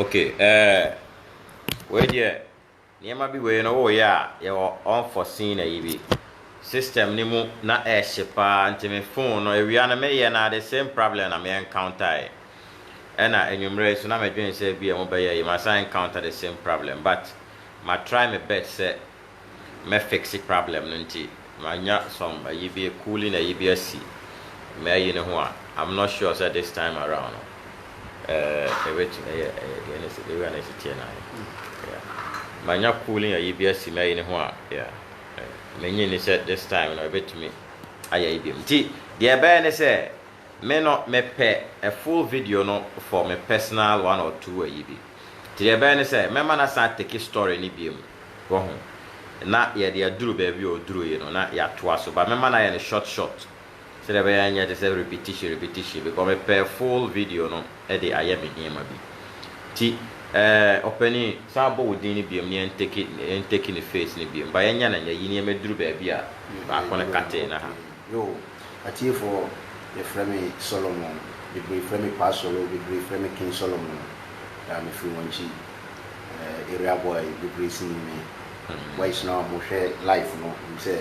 Okay, eh, wei deɛ nneɛma bi wei no woyɛ a yɛwɔ unforeseen ayi bi system no mu na ɛhye paa nti me phone no awia no meyɛ no the same problem na me encounter Ɛna anwummerɛ yi nso na me dwene sɛ ebia mo bɛyɛ yie masan encounter the same problem but ma try me bet sɛ mɛ fixe problem no nti ma nya some ayi bi cooling ayi bi asi mɛ ayi no ho a I'm not sure sɛ this time around no eh ebetumi ɛyɛ ɛyɛ deɛ na ewia na esi teɛ na yeah ma nya cooling ayi bi asi mɛ ayi no ho a yeah eh me nyi ni sɛ this time no ebetumi ayɛ ayi biom nti deɛ ɛbɛyɛ ne sɛ Me no me pɛ a full video no for me personal one or two ayi bi. Nti deɛ ɛbɛyɛ ne sɛ mɛma no asan atake story no biom wahu. Na yɛde aduru baabi a ɔduruuie no na yɛatoa so but mɛma no ayɛ no short short sɛdeɛ ɛbɛyɛ ɛnyɛ te sɛ repetition repetition because me pɛ full video no de ayɛ me nneɛma bi. Nti eh ɔpanin san bɔ wo din no biom na yɛntake yɛntake ne face no biom but yɛnyɛ no nnɛ yi nneɛma duru baabi a baako no katee no ha. Yoo, atiefoɔ yɛ frɛ me Solomon, bebree frɛ me Pa Solo, bebree frɛ me King Solomon, yaa me firi wɔn nkyi, eh, area boy bebree si nim me, boys no a wɔn hwɛ life no nim sɛ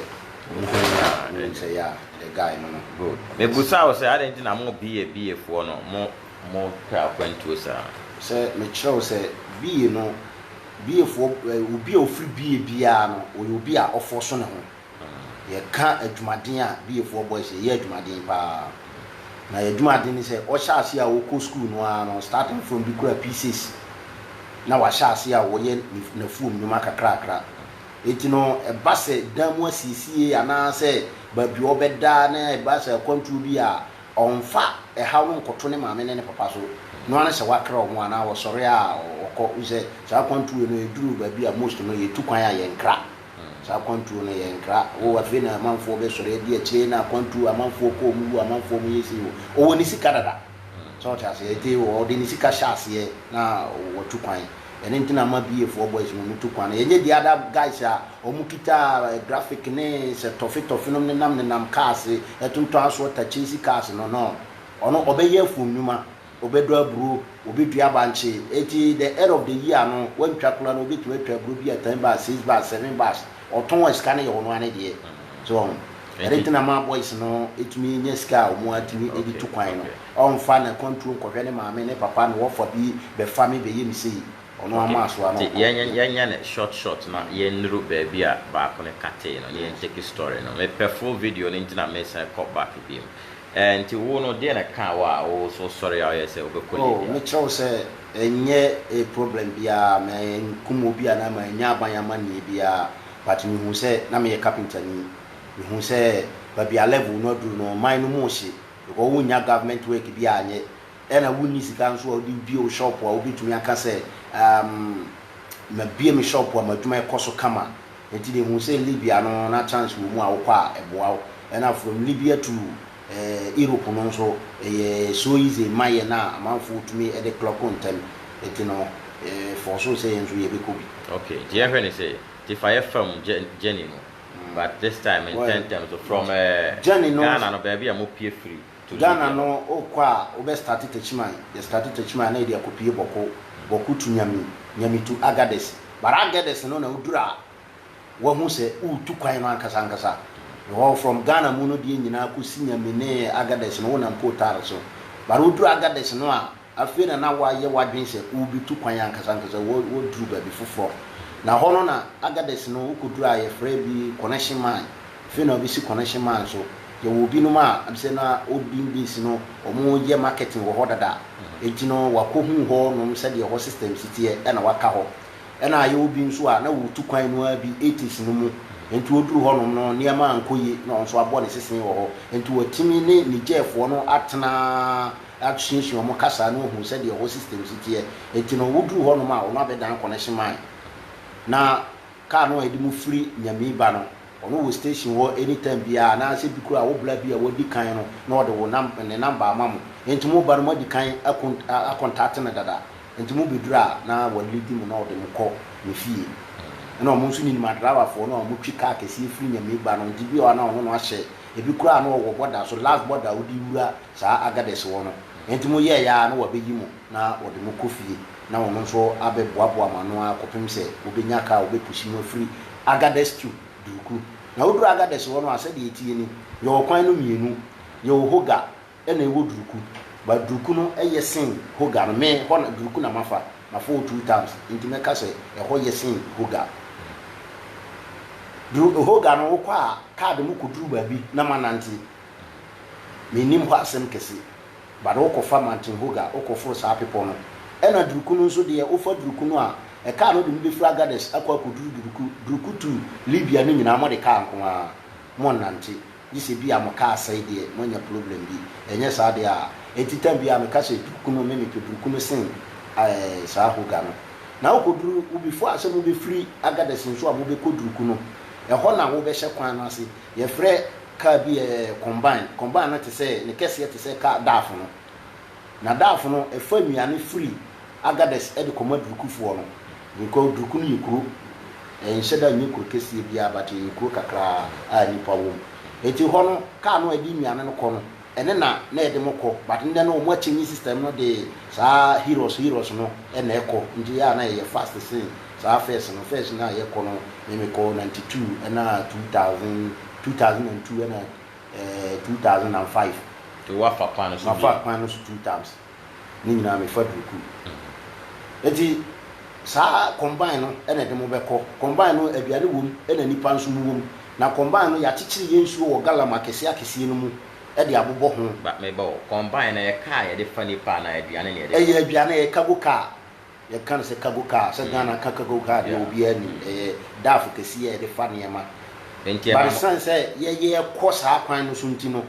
wɔn hu me a wɔn nim sɛ yaa me dɛ guy no no. Good, me busa wo sɛ adɛn nti na mo BA BA foɔ no mo mo pɛ akwantuo saa? Sɛ me kyerɛ wo sɛ BA no, BA foɔ, eh, obi a ɔfiri BA biara no ɔyɛ obi a ɔfɔɔso ne ho. Yɛka adwumaden a BAfoɔ boys yɛyɛ adwumaden paa na yɛ adwumaden ne sɛ ɔhyɛ aseɛ a wokɔ sukuu no ara no starting from bi kura P6 na wahyɛ aseɛ a ɔyɛ n'afuom nnwuma kakrakra enti no ɛba sɛ dan mu asiesie anaa sɛ baabi ɔbɛda na ɛba sɛ akwantuo bi a ɔmfa ɛhaw no nkɔto ne maame ne ne papa so no ara ne sɛ wakra wɔn anaa ɔsɔre a ɔkɔ wosɛ saa akwantuo no ɛduru baabi a most no yɛtu kwan a yɛnkra Saa akwantuo no yɛ nkra oo afei na amanfoɔ bɛ sɔre adi akyire na akwantuo amanfoɔ kɔ ɔmo wu amanfoɔ ɔmo yɛ sei o ɔwɔ ne sika dada sɛ ɔte aseɛ eti ɔde ne sika hyɛ aseɛ na wɔtu kwan ɛne nti na ama BA foɔ boys no ɔmo tu kwan no yɛnyɛ the other guys a ɔmo kita graphic ne sɛ tɔfe tɔfe nom nenam nenam cars ɛtontɔn aso ɔta chase cars no no ɔno ɔbɛyɛ phone nnwuma Ɔbɛdɔ aburo, ɔbɛdua bankye, enti the end of the year no wantwa koraa no ɔbɛtumi atwa aburo bi a ten bars, six bars, seven bars, ɔtɔn a sika no yɛ ɔno ara ne deɛ. So ɔho, ɛno nti na ɛma boys no tumi nya sika a wɔatumi de tu kwan no. Ɔmfa na kwanturo nkɔhwɛ ne maame, ne papa, ne wɔfa bi bɛfa me bɛyɛ me sei, ɔno ara maa so a na ɔkɔ. Nti yɛnyɛ no short short na yɛnnuru baabi a baako no katee no na yɛntake story no. Mepɛ full video no nti na mesan kɔ back bio. Enti wo no, deɛn na ɛkaa wo a wosɔre ara yɛ sɛ wobɛkɔ Libya? Oh, mekyerɛ wo sɛ, ɛnyɛ problem biara, mankum obi anaa mannya aban amanneɛ biara, but mehuu sɛ na meyɛ kapentani. Mehuu sɛ baabi a level no aduru no, ɔman no mu hye, because wonnya government work biara nyɛ, ɛna wonni sika nso a wode bue wo shop a wobɛtumi aka sɛ, um, mabue me shop a m'adwuma kɔ so kama. Enti deɛ hu sɛ Libya no na chance wɔ mu a wokɔ a ɛboa wo ɛna from Libya to Europe no nso ɛyɛ so easy mma yɛn a amanfoɔ tumi de clock ntɛm enti no force sɛ yɛn nso yɛbɛkɔ bi. Ok nti yɛnhwɛ no sei, nti fa yɛ fam journey no but this time ntɛntɛm so from Ghana no baabi a mopue firi. Ghana no wo kɔ a wo bɛ starte takyiman yɛ starte takyiman na yɛde akɔ pie bɔko bɔko tu nyami nyami tu agadɛs but agadɛs no na wo duru a wa hu sɛ wo tu kwan no ankasa ankasa because from Ghana mu no deɛ nyinaa kɔ si nyami ne agadɛs no wo nam coal tar so but wo duru agadɛs no a Afei na na woayɛ w'adwene sɛ worebetu kwan ankasa ankasa, woaduru baabi foforɔ. Na hɔ no na Agadez no wokɔduru a yɛfrɛ bi Connection Mine. Afei na wɔabɛsi Connection Mine nso. Yɛwɔ binom a ɛbi sɛ na Odin Base no wɔyɛ marketing wɔ hɔ dada. Enti no wɔakɔhunu hɔ nom sɛdeɛ hɔ system si teɛ ɛna wɔaka hɔ. Ɛna yɛwɔ bi nso a na wɔretu kwan no ara bi 80s no mu. Enti ɔduru hɔ nom no nneɛma ankɔ yie na ɔno nso abɔ ne sesee wɔ hɔ. Enti watumi ne Nigerfoɔ no atena. asuasua wɔn kasa na wɔahu sɛdeɛ ɛhɔ systems teɛ, enti no wɔduruu hɔ nom a ɔno abɛdan connection man na car no a yɛde mo firi Nyamii ba no ɔno wɔ station hɔ any time biara anaa sɛ bi koraa a wo bra bi a wadi kan no na ɔde wo nam ne number ama mo enti mo ba no moadi kan akon acontate no dada enti mo bɛduru a na wa leadi mo na ɔde mo kɔ ne fie ɛna ɔmo nso ninim adrawafoɔ no a ɔmo twi car kɛseɛ firi Nyamii ba no enti bi wɔ hɔ a na ɔno no ahyɛ ebi koraa a na ɔwɔ border so last border a wode wura saa agadɛsi hɔ no, enti mo yɛɛe ara na wɔabeyi mo na wɔde mo kɔ fie, na wɔn nso abɛboaboa mo ano ara kɔpem sɛ mobenya ka a wɔbepusi mo afiri agadɛsi tu duuku. Na woduru agadɛsi hɔ no a, sɛdeɛ eteɛ ni, yɛwɔ kwan no mmienu, yɛwɔ hoga ɛna yɛwɔ duuku, but duuku no yɛ sen hoga no, me, hɔ na duuku na mafa, mafa hɔ two times, enti mɛka sɛ ɛhɔ yɛ sen hoga. Duru, hoga no wokɔ a, kaa de mo kɔduru baabi na moanante, Mennim hɔ asɛm kɛse, but wo kɔ fa Mountain Hoga, wo kɔ foro saa bepɔ no, ɛna Duruku no nso deɛ, wo fa Duruku no a, ɛkaa no de mo bɛfiri Agadez akɔ akɔduru Duruku, Duruku to Libya no nyinaa mo de kaa nko ara, mo nnante, gye sɛ bi a mo kaa sɛe deɛ, mo anya problem bi, ɛnyɛ saa deɛ a, ɛnti time biara meka sɛ Duruku no, me mepɛ Duruku no sen ɛɛ saa Hoga no. Na wo kɔduru, wo before sɛ mo bɛfiri Agadez nso a mo bɛkɔ Duruku no, ɛhɔ na wo bɛhyɛ kwan no ase, Yɛfrɛ kaa bi ɛ combine. Combine no te sɛ, ne kɛseɛ te sɛ kaa daafo no. Na daafo no, ɛfa nnuane firi Agadez de kɔma Durukufoɔ no. Because Duruku no yɛ kuro. Ɛnhyɛ da nyɛ kuro kɛseɛ biara but ɛyɛ kuro kakra a nnipa wɔ mu. Enti hɔ no, kaa no a ɛde nnuane no kɔ no, ɛne na na yɛde mo kɔ but ndɛ no ɔmo akyɛnyi system no de saa heroes heroes no na ɛkɔ nti yɛ a na yɛyɛ fast sen saa first no first no a yɛkɔ no me me kɔ ninety two ɛna two thousand two thousand and two ɛna ɛɛ two thousand and five. Nti wafa kwan no so bi? Mafa kwan no so two times. ne nyinaa me fa duku nti saa combine no na ɛde mo bɛkɔ combine no aduane wɔ mu na nipa nso mu wɔ mu na combine no yɛakyekyere yɛ nsuo wɔ galam akɛseɛ akɛseɛ no mu de abobɔ ho. Ba meba o combine no ɛyɛ car yɛde fa nipa anaa aduane na yɛde fa? Ɛyɛ aduane ɛyɛ cargo car Yɛka no sɛ cargo car a, sɛ Ghana ka cargo car deɛ obiara nim, ɛyɛ daf kɛseɛ a yɛde fa nneɛma. But ɛsiane sɛ yɛyɛ kɔ saa kwan no so nti no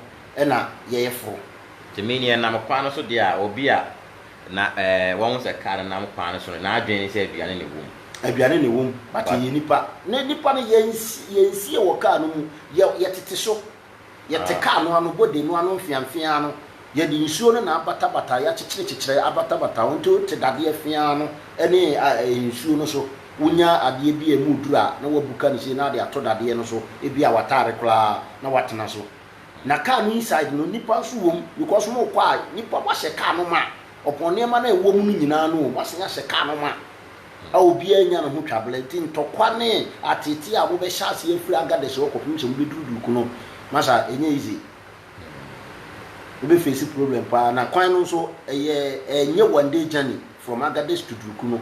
na yɛyɛ foro. Nti meaning ɛnam kwan no so deɛ a, obi a na wahu sɛ car no nam kwan no so no, n'adwene ne sɛ aduane na ɛwɔ mu. Aduane na ɛwɔ mu, but yɛyɛ nnipa. Na nnipa no yɛnsie wɔ car no mu, yɛtete so, Yɛte kaa no ano, body no ano mfeamfeaa no, yɛde nsuo no na abatabata, yɛakyekyere-kyekyere abatabata ho nti wote dadeɛ feaa no ne nsuo no so. Wonya adeɛ bi a emu duru a, na woabuka no sei na wode ato dadeɛ no so, ebia w'ataare koraa, na woatena so. Na kaa no inside no, nnipa nso wɔ mu because morekɔ a, nnipa, moahyɛ kaa no ma, ɔpon nneɛma no a ɛwɔ mu no nyinaa no o, moasan ahyɛ kaa no ma. a obiara nnya ne ho twabere nti ntɔkwa ne ateetee a mobɛhyɛ ase afiri Agadez hɔ kɔpem sɛ mobɛduru Duku no, masa ɛnyɛ easy. Wobɛfeesi problem paa na kwan no nso ɛyɛ ɛnyɛ one day journey from Agadez to Duku no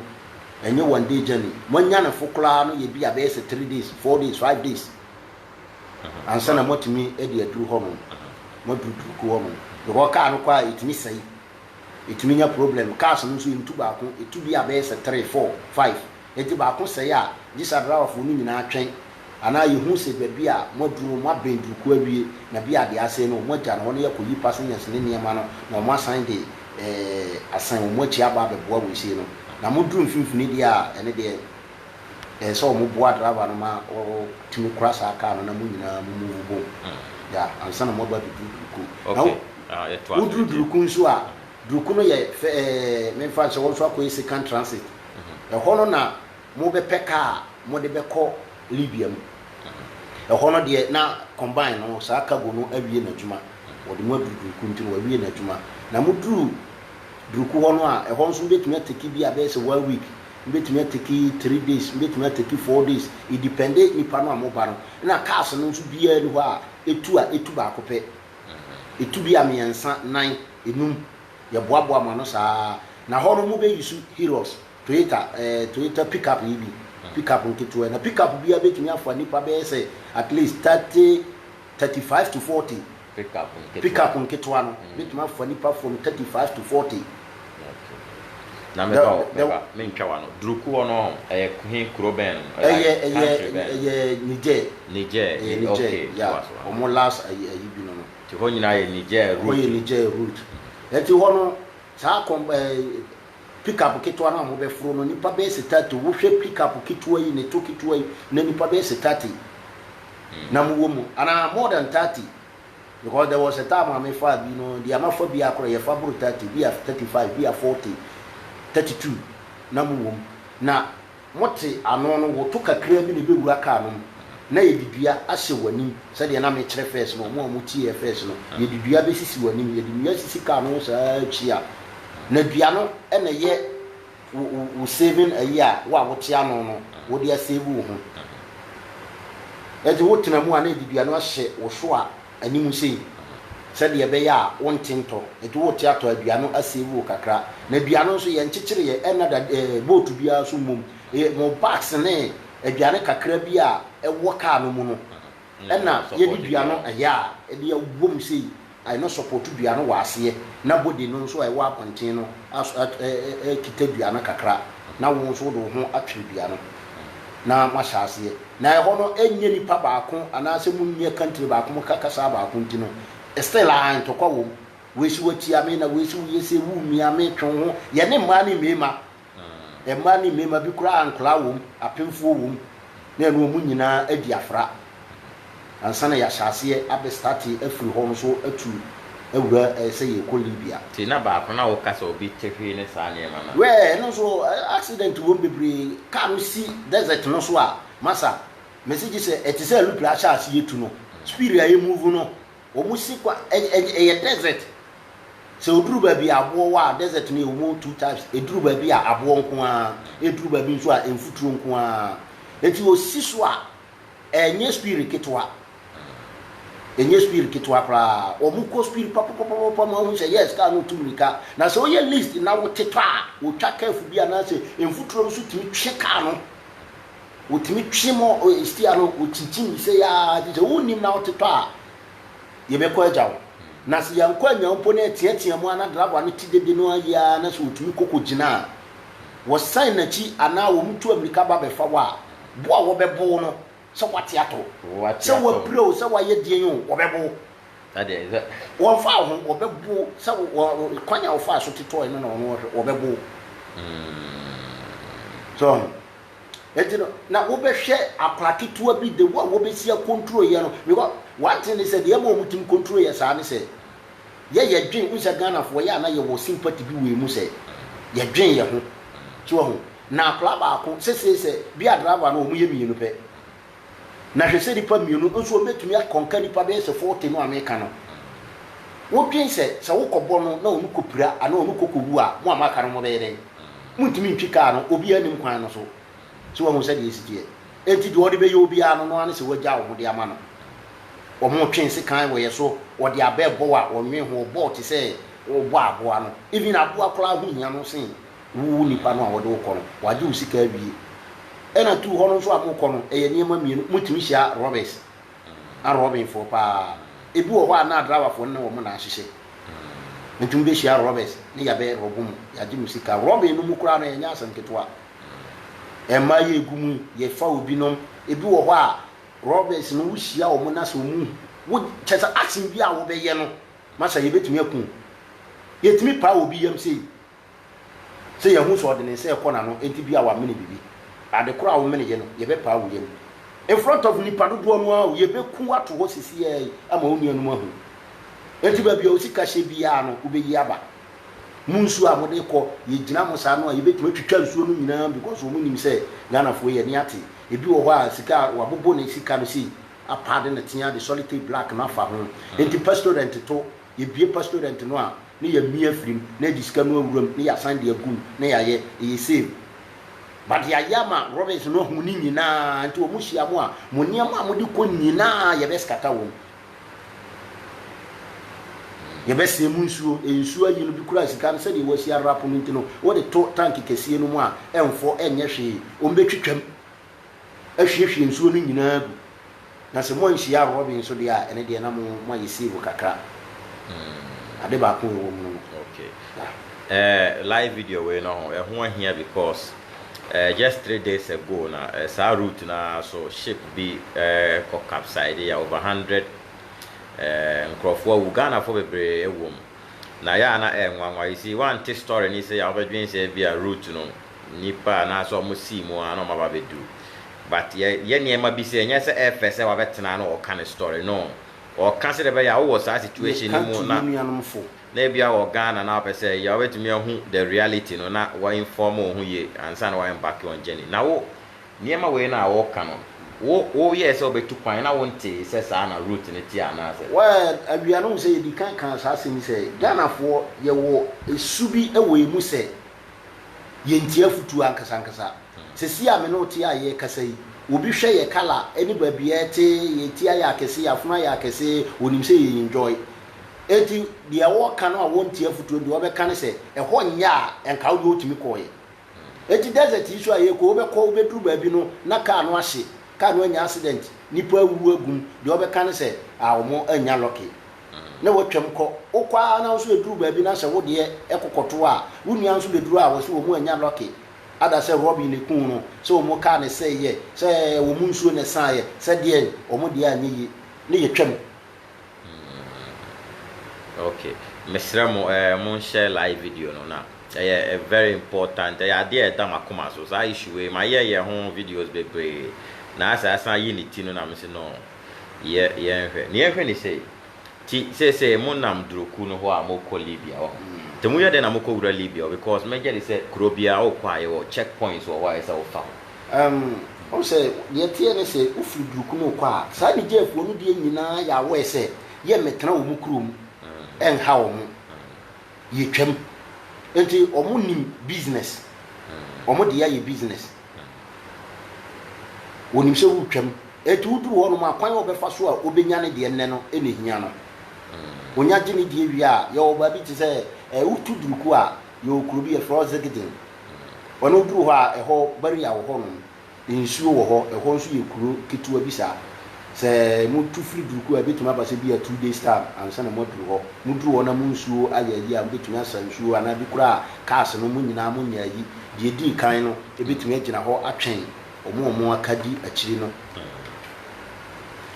ɛnyɛ one day journey. Moanya ne fo koraa no yɛ bi a bɛyɛ sɛ three days, four days, five days ansa na moatumi de aduru hɔnom, moaduru Duku hɔnom because kaa no kɔ a ɛtumi sɛe. Ɛtumi nya problem. Cars no nso ɛntu baako, ɛtu bi a bɛyɛ sɛ three, four, five. Ɛnti baako sɛe a, gye sɛ adriverfoɔ no nyinaa twɛn. Anaa yɛhu sɛ baabi a moaduru no moabɛn durukuo awie na bi a deɛ asɛe no wɔagya no hɔ na yɛakɔyi passengers no nneɛma no na wɔasan de asan wɔn akyi aba abɛboa weisei no. Na moduru mfimfini deɛ a, ɛno deɛ. Ɛsɛ sɛ ɔmo boa driver no ma ɔtumi kora saa car no na mo nyinaa mo move bom yeah ansa na mo aba abeduru Duruku. Na wo duru Duruku nso a, Duruku no yɛ fɛ ɛɛ me nfa nhyɛ hɔ nso akɔ yɛ second transit. Ɛhɔ no na mo bɛ pɛ car a mo de bɛ kɔ Libya mu. Ɛhɔ no deɛ na combine no saa cargo no awie n'adwuma. Wɔde mo aduru Duruku nti no wawie n'adwuma. Na mo duru Duruku hɔ no a, ɛhɔ nso wobetumi atake bi a bɛyɛ sɛ one week. Mebɛtumi ateki three days, mebɛtumi ateki four days, it depende nnipa no a wɔba no. Ɛna cars no nso biara ni hɔ a ɛtu a ɛtu baako pɛ, ɛtu bi a mmiɛnsa, nan, nnum, yɛboaboa mo ano saa ara. Na hɔ no mobɛ use Hilux, Toyota eh, Toyota pick up yi bi, pick up nketewa yi. Na pick up biara bɛtumi afa nnipa bɛyɛ sɛ at least thirty, thirty five to forty. pickup nketewa no betumi afa nnipa fam thirty five to forty. Na meba o, meba, mentwa w'ano. Durku hɔ no, ɛyɛ he kuro bɛn no? Ɛyɛ, ɛyɛ, ɛyɛ Niger. Niger, ɛyɛ Niger, okay, yeah. Wɔn last ayi ayi bi no no. Nti hɔ nyinaa yɛ Niger route. Hɔ yɛ Niger route. Nti hɔ no, saa kɔm ɛɛ Pickup ketewa no a mobɛforo no nipa bɛyɛ sɛ thirty wo hwɛ pickup ketewa yi ne to ketewa yi na nipa bɛyɛ sɛ thirty na mo wɔ mu anaa more than thirty because there was a time a me faa bi no deɛ ma fa bi akorɔ yɛ fa boro thirty bi a thirty five bi a forty thirty two na mo wɔ mu na Mote ano no, wo to kakraa bi na ɛbɛwura car no mu na yɛde dua ahyɛ w'anim sɛdeɛ na mekyerɛ first no, wɔn a wɔtieɛ first no, yɛde dua bɛsisi w'anim, yɛde nnua sisi car no ho saa ara kyia, na dua no na ɛyɛ wo wo wo saving ayi a wo a wote ano no wode asave wo ho. Ɛnti wotena mu a na yɛde dua no ahyɛ wo so a, anim sei sɛdeɛ ɛbɛyɛ a wonte ntɔ, nti wote atɔ a dua no asave wo kakra, na dua no nso yɛnkyekyereɛ, ɛnna da ɛɛ boat biara so mmom, ɛyɛ mo bags ne aduane kakra bi a ɛwɔ kaa no mu no ɛnna yɛde dua no ɛyɛ a ɛde abom sei, ɛno support dua no wɔ aseɛ, na body no nso a ɛwɔ abɔnten no as at ɛɛ ɛɛ kita dua no kakra, na wo nso wode wo ho atwere dua no. na moahyɛ aseɛ, na ɛhɔ no ɛnyɛ nipa baako anaasɛ monni ɛkantre baako moka kasaa baako nti no still aah ntɔkwa wɔ mu, wei se woatia me na wei se woyɛ sei, wo mmia me, twe wo ho, yɛne mmaa ne mmeema, mmaa ne mmeema bi koraa a nkwadaa wɔ mu, apemfoɔ wɔ mu, na ɛno wɔn nyinaa adi afra. ansa na yɛahyɛ aseɛ abɛ starte afiri hɔ no so atu awura sɛ yɛrekɔ Libya. Nti na baako na wo ka sɛ obi te hwee ne saa nneɛma no a. Wɛɛ ɛno nso accident wɔ mu bebree, car no si desert no so a masa, mese gye sɛ ɛte sɛ aluple ahyɛ aseɛ tu no, speed a ɛmove no wɔn si kwa ɛyɛ desert, sɛ oduru baabi a aboɔ wɔ a desert no yɛ wɔ two types, ɛduru baabi a aboɔ nko ara, ɛduru baabi nso a mfuturo nko ara, nti osi so a Ɛnyɛ spirit ketewa. Ɛnyɛ spirit ketewa koraa. Wɔn kɔ spirit papapapapa ma wohu sɛ yes car no retu mmirika. Na sɛ woyɛ list na wote tɔ a, wotwa curve bi anaasɛ mfuturo no so tumi twe car no. Wotumi twe ma steer no wokyinkyin sɛ yaa gye sɛ wonnim na wote tɔ a yɛbɛkɔ agya wo. Na sɛ yɛankɔ anya wo mpo na ɛteatea mu ara na draboa no te dede no ara yie ara na sɛ otumi kɔ kɔgyina a wɔsan n'akyi anaa wɔtu ammirika ba bɛfa wo a, Bo a wɔbɛbo wo no, sɛ woate ato wo, sɛ woapira o, sɛ woayɛ deɛn o, wɔbɛbo wo. Wɔmfa wo ho, wɔbɛbo wo, sɛ kwan a wofaa so totɔɔe no na wɔn wɔhwɛ, wɔbɛbo wo. So ɔho? Enti no, na wobɛhwɛ akwadaa ketewa bi de wo a wɔbɛsi akonturo yɛ no, because one thing ne sɛ, deɛ ɛma wɔtumi konturo yɛ saa ne sɛ, yɛ yɛdwen, wohu sɛ Ghanafoɔ, yɛ a na yɛwɔ sympathy bi wɔ yɛn mu sɛ, yɛdwen yɛn ho. So ɔho? Na akwadaa baako sesee sɛ bia driver no wɔn yɛ mmienu pɛ. Na hwɛ sɛ nipa mmienu nso wɔn bɛtumi akɔnka nnipa bɛyɛ sɛ forty no a meka no. Wodwen sɛ sɛ wokɔ bɔ no na wɔn kɔ pira anaa wɔn kɔ kɔ wu a mo a moaka no mo bɛyɛ dɛn? Montumi ntwi car no obiara nnim kwan no so. So wahu sɛdeɛ ɛsi teɛ? Enti deɛ wɔde bɛyɛ obiara no no ara ne sɛ wagya wɔn de ama no. Wɔn twe nsekan wɔ yɛ so, wɔde abɛ bɔ wo a wɔnnwen ho, wɔbɔ wo te sɛ wɔbɔ aboa no. Even aboa koraa ho hia no sen. Wo wo nipa no a wɔde wo kɔ no wagye wo sika awie ɛna tu hɔ no nso a mo kɔ no ɛyɛ nneɛma mmienu mo tumi hyia robbers a robbing foɔ paa ebi wɔ hɔ a na driver foɔ no ne wɔn na ahyehyɛ mo tumi bɛ hyia robbers ne yabɛ rob mo yagye mo sika robbing no mu koraa no ɛnyɛ asɛm ketewa ɛma yɛ egu mu yɛ fa obi nom ebi wɔ hɔ a robbers no wo hyia wɔn na sɛ wɔn wo kyɛ sɛ asen bi a wɔbɛyɛ no masa yɛ bɛtumi akun yɛ tumi paa obi yam sei sɛ yɛahu sɛ ɔde ne nsa rekɔ n'ano nti bi a wamene biribi. Ade koro a womeneyɛ no, yɛbɛpaa wo yam. In front of nnipa dodoɔ no ara o, yɛbɛku wo ato hɔ sesiaa yi ama wo nuanom ahu. Enti baabi a wo sika hyɛ biara no, wobɛyi aba. Mo nsuo a mode rekɔ, yɛgyina mo saa no a, yɛbɛtumi atwitwa nsuo no nyinaa because wɔn nim sɛ Ghanafoɔ yi, ani ate. Ebi wɔ hɔ a, sika a wabobo ne sika no sei, apaade no tea de sɔlitɛp black no afa ho. Enti pastorɛnt to, yɛbue pastorɛnt no a, na yɛamia afiri mu na yɛde sika no awura mu na yɛasan de agu mu na yɛayɛ, ɛyɛ same. But yɛayɛ ama Robins no ahu ne nyinaa nti wɔn hyia mo a, mo nneɛma a mode kɔ nyinaa yɛbɛskata wɔn. Yɛbɛsɛn mu nsuo, nsuo ayi no bi kura sika no sɛdeɛ wɔasi arap no nti no, wode to tank kɛseɛ no mu a ɛmfɔ ɛnyɛ hwee, wɔbɛtwitwam. ahwiehwie nsuo no nyinaa agu, na sɛ moanhyia awɔrɔbe nso deɛ a, ɛno deɛ na mo, moayɛ save kakra. Ade baako a ɛwɔ mu no no. Okay. Eh, live video wei no ho, ɛho ahia because eh, just three days ago na eh, saa route no ara so ship bi eh, kɔ capside yɛ over hundred eh, nkurɔfoɔ awu, Ghanafoɔ bebree ɛwɔ mu. Na yɛ a na ɛyɛ nwanwa, you see, wante story no yi sɛ yɛ a wobɛdwen sɛ bi a route no nnipa anaasɛ ɔmo sii mu a na ɔmo aba abɛduru but yɛ yɛ nneɛma bi sɛ ɛnyɛ sɛ ɛɛfɛ sɛ wabɛtena na ɔɔka ne story no ɔɔka sɛdeɛ ɛbɛyɛ a wowɔ saa situation no mu na na ebia wɔ Ghana na wopɛ sɛ yɛ a wobɛtumi ahu the reality no na wa inform wo ho yie ansa na wa embark on journey na wo nneɛma wei no a wooka no wo woyɛɛ sɛ wobɛtu kwan na wontee sɛ saa na route no teɛ anaasɛ. Well awia no wohu sɛ yɛdikan kaa saa asɛm yi sɛ Ghanafoɔ yɛwɔ su bi wɔ yɛn mu sɛ. yɛntie afotuo ankasankasa. Sesie a me ne wo te a yɛrekasa yi, obi hwɛ yɛ kala ne baabi a yɛte, yɛn ti ayɛ akɛse, yɛn afono ayɛ akɛse, ɔnim sɛ yɛn enjoy. Enti deɛ wɔreka no a wɔntie afotuo no deɛ wɔbɛka ne sɛ, ɛhɔ nyɛ a, ɛnka wo deɛ wotumi kɔeɛ. Enti desert yi so a yɛrekɔ, wobɛkɔ, wobɛduru baabi no na kaa no ahye, kaa no anya accident, nnipa awuwu agu mu, deɛ wɔbɛka ne sɛ, ah, wɔn annya lucky. na wɔtwam kɔ. Wokɔ ara na wo nso ɛduru baabi na sɛ wo deɛ ko kɔto a, wo nua nso bɛduru a wɔse wɔn anya lucky ada sɛ Robyn na ɛkuu no, sɛ wɔn car na ɛsɛeɛ, sɛ wɔn nsuo na ɛsaaeɛ, sɛ deɛn, wɔn deɛ anyɛ yie na yɛtwam. Hmm, ok, mesrɛ mo eh, mo nhyɛ live video no na ɛyɛ eh, very important, ɛyɛ adeɛ a ɛda m'akoma so, saa issue wei mayɛ yɛ ho videos bebree na asɛ asan yi ne ti no na mese no, Yɛ yɛnhwɛ. Nea yɛhwɛ ne sei, Nti seesei monam duru kuw no hɔ a morekɔ Libya, woahu. Nti moyɛ dɛn na mokɔwura Libya hɔ? Because mɛgye de sɛ kuro biara wokɔ a yɛwɔ check points wɔ hɔ a ɛsɛ sɛ wofa ho. Ɛm, wohu sɛ, deɛ ɛteɛ ne sɛ, wofiri duru kuw no rekɔ a, saa Nigerfoɔ no deɛ nyinaa yɛ aware sɛ yɛmmɛtena wɔn kuro mu nnha wɔn. Yɛtwam. Nti wɔnnim business. Wɔn deɛ ayɛ business. Onim sɛ woretwam, enti woduru hɔnom a, kwan a ɔbɛfa so a obenya ne deɛ nnɛ no na ehia no. Onya gye ne deɛ wie a, yɛwɔ baabi te sɛ ɛɛ wotu duruku a, yɛwɔ kuro bi yɛfrɛ hɔ Zigdin. Ɔno woduru hɔ a, ɛhɔ barrier wɔ hɔnom, nsuo wɔ hɔ, ɛhɔ nso yɛ kuro ketewa bi saa. Sɛ motu firi Durku a, ɛbɛtumi aba sɛ ebia two days time ansa na moaduru hɔ. Moduru hɔ na mo nsuo ayɛ ayi a, mobɛtumi asa nsuo anaa bi koraa cars no, mo nyinaa monyɛ ayi. Deɛ ɛdii kan no, ɛbɛtumi agyina hɔ atwɛn wɔn a wɔaka di akyiri no.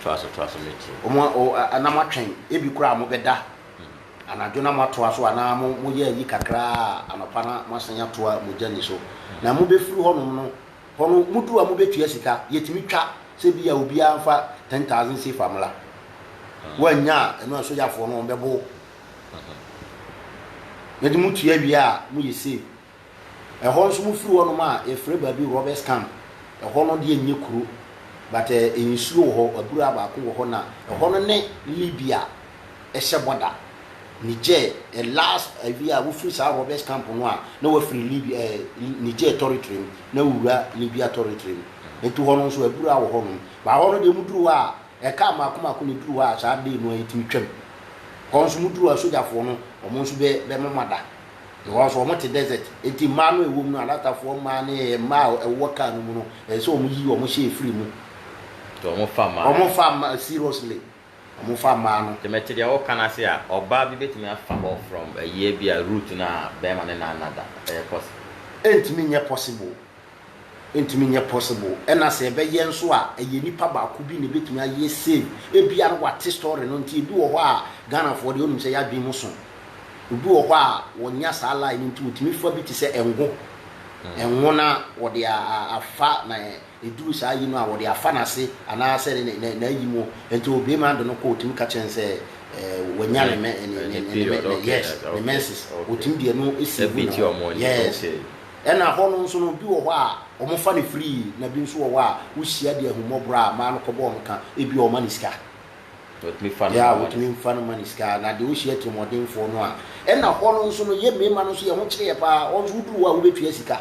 Toa so, toa so, metie. Wɔn a, o, a, na moatwɛn, ebi koraa mobɛda anadwo na moatoa so anaa mo, moyɛ ayi kakra a anɔpa na moasan atoa mogya nniso. Na mobɛfiri hɔnom no, Hɔ no mudu a mobɛtua sika, yɛtumi twa sɛ bi a obiara mfa ten thousand sefa mmra. Woannya a, ɛno a sogyafoɔ no wɔn bɛbo wo. Na de motua wie a, moyɛ save. Ɛhɔ nso mofiri hɔ nom a, yɛfrɛ baabi Roberts Camp. Ɛhɔ no deɛ nyɛ kuro, but nsuo wɔ hɔ, abura baako wɔ hɔ na ɛhɔ no ne Libya ɛhyɛ bɔ da. Niger, the last awie a wofiri saa robbers camp no a na wafiri Libya eh, Niger territory mu na wowura Libya territory mu. Nti hɔ no nso abura wɔ hɔ nom. Ba hɔ no deɛ muduru hɔ a ɛkaa mmaako mmaako na eduru hɔ a saa day no a yɛtumi twam. Hɔ nso muduru a sogyafoɔ no wɔn nso bɛ bɛmoma da. Because wɔn te desert. Nti mmaa no a ɛwɔ mu no alatafoɔ mmaa ne eh, mmaa a ɛwɔ kaa no mu no ɛsɛ sɛ wɔn yi wɔn hyɛ efiri mu. Nti wɔn fa mmaa no. Wɔn fa mmaa seriously. wɔfa mmaa no. Sɛ mete deɛ woka no ase a, ɔbaa bi bɛtumi afa hɔ from a year bi a root no a barima ne nan nna da, ɛyɛ possible? Ɛntumi nyɛ possible, ɛntumi nyɛ possible, ɛna sɛ ɛbɛyɛ nso a ɛyɛ nipa baako bi na ɛbɛtumi ayɛ same, ɛbia no wate story no nti, ɛbi wɔ hɔ a Ghanafoɔ deɛ wonim sɛ yɛadwene mu so, obi wɔ hɔ a wɔnya saa line no nti wɔtumi fa bi te sɛ ɛngo, ɛngo na wɔde afa na. Ɛduruu saa ayi no a, wɔde afa no ase anaasɛ n'ayi mu. Enti ɔbue m'ado no kɔ, ɔtumi ka kyerɛ no sɛ wanya ne menses, ɔtumi de ɛno si gu ne ho. Yes. Ɛna hɔ no nso no, bi wɔ hɔ a, wɔfa no firi, na bi nso wɔ hɔ a, wohyia de ahummɔborɔ a, maa no kɔbɔɔ no ka, ebi a wɔma no sika. Wɔtumi fa no ma no sika. Wɔtumi fa no ma no sika, na deɛ ɔhyia atirimuɔdenfoɔ no a. Ɛna hɔ no nso no, yɛn mmarima no nso, yɛn ho kyere yɛn paa. Hɔ nso, woduru hɔ a, wobɛtua sika.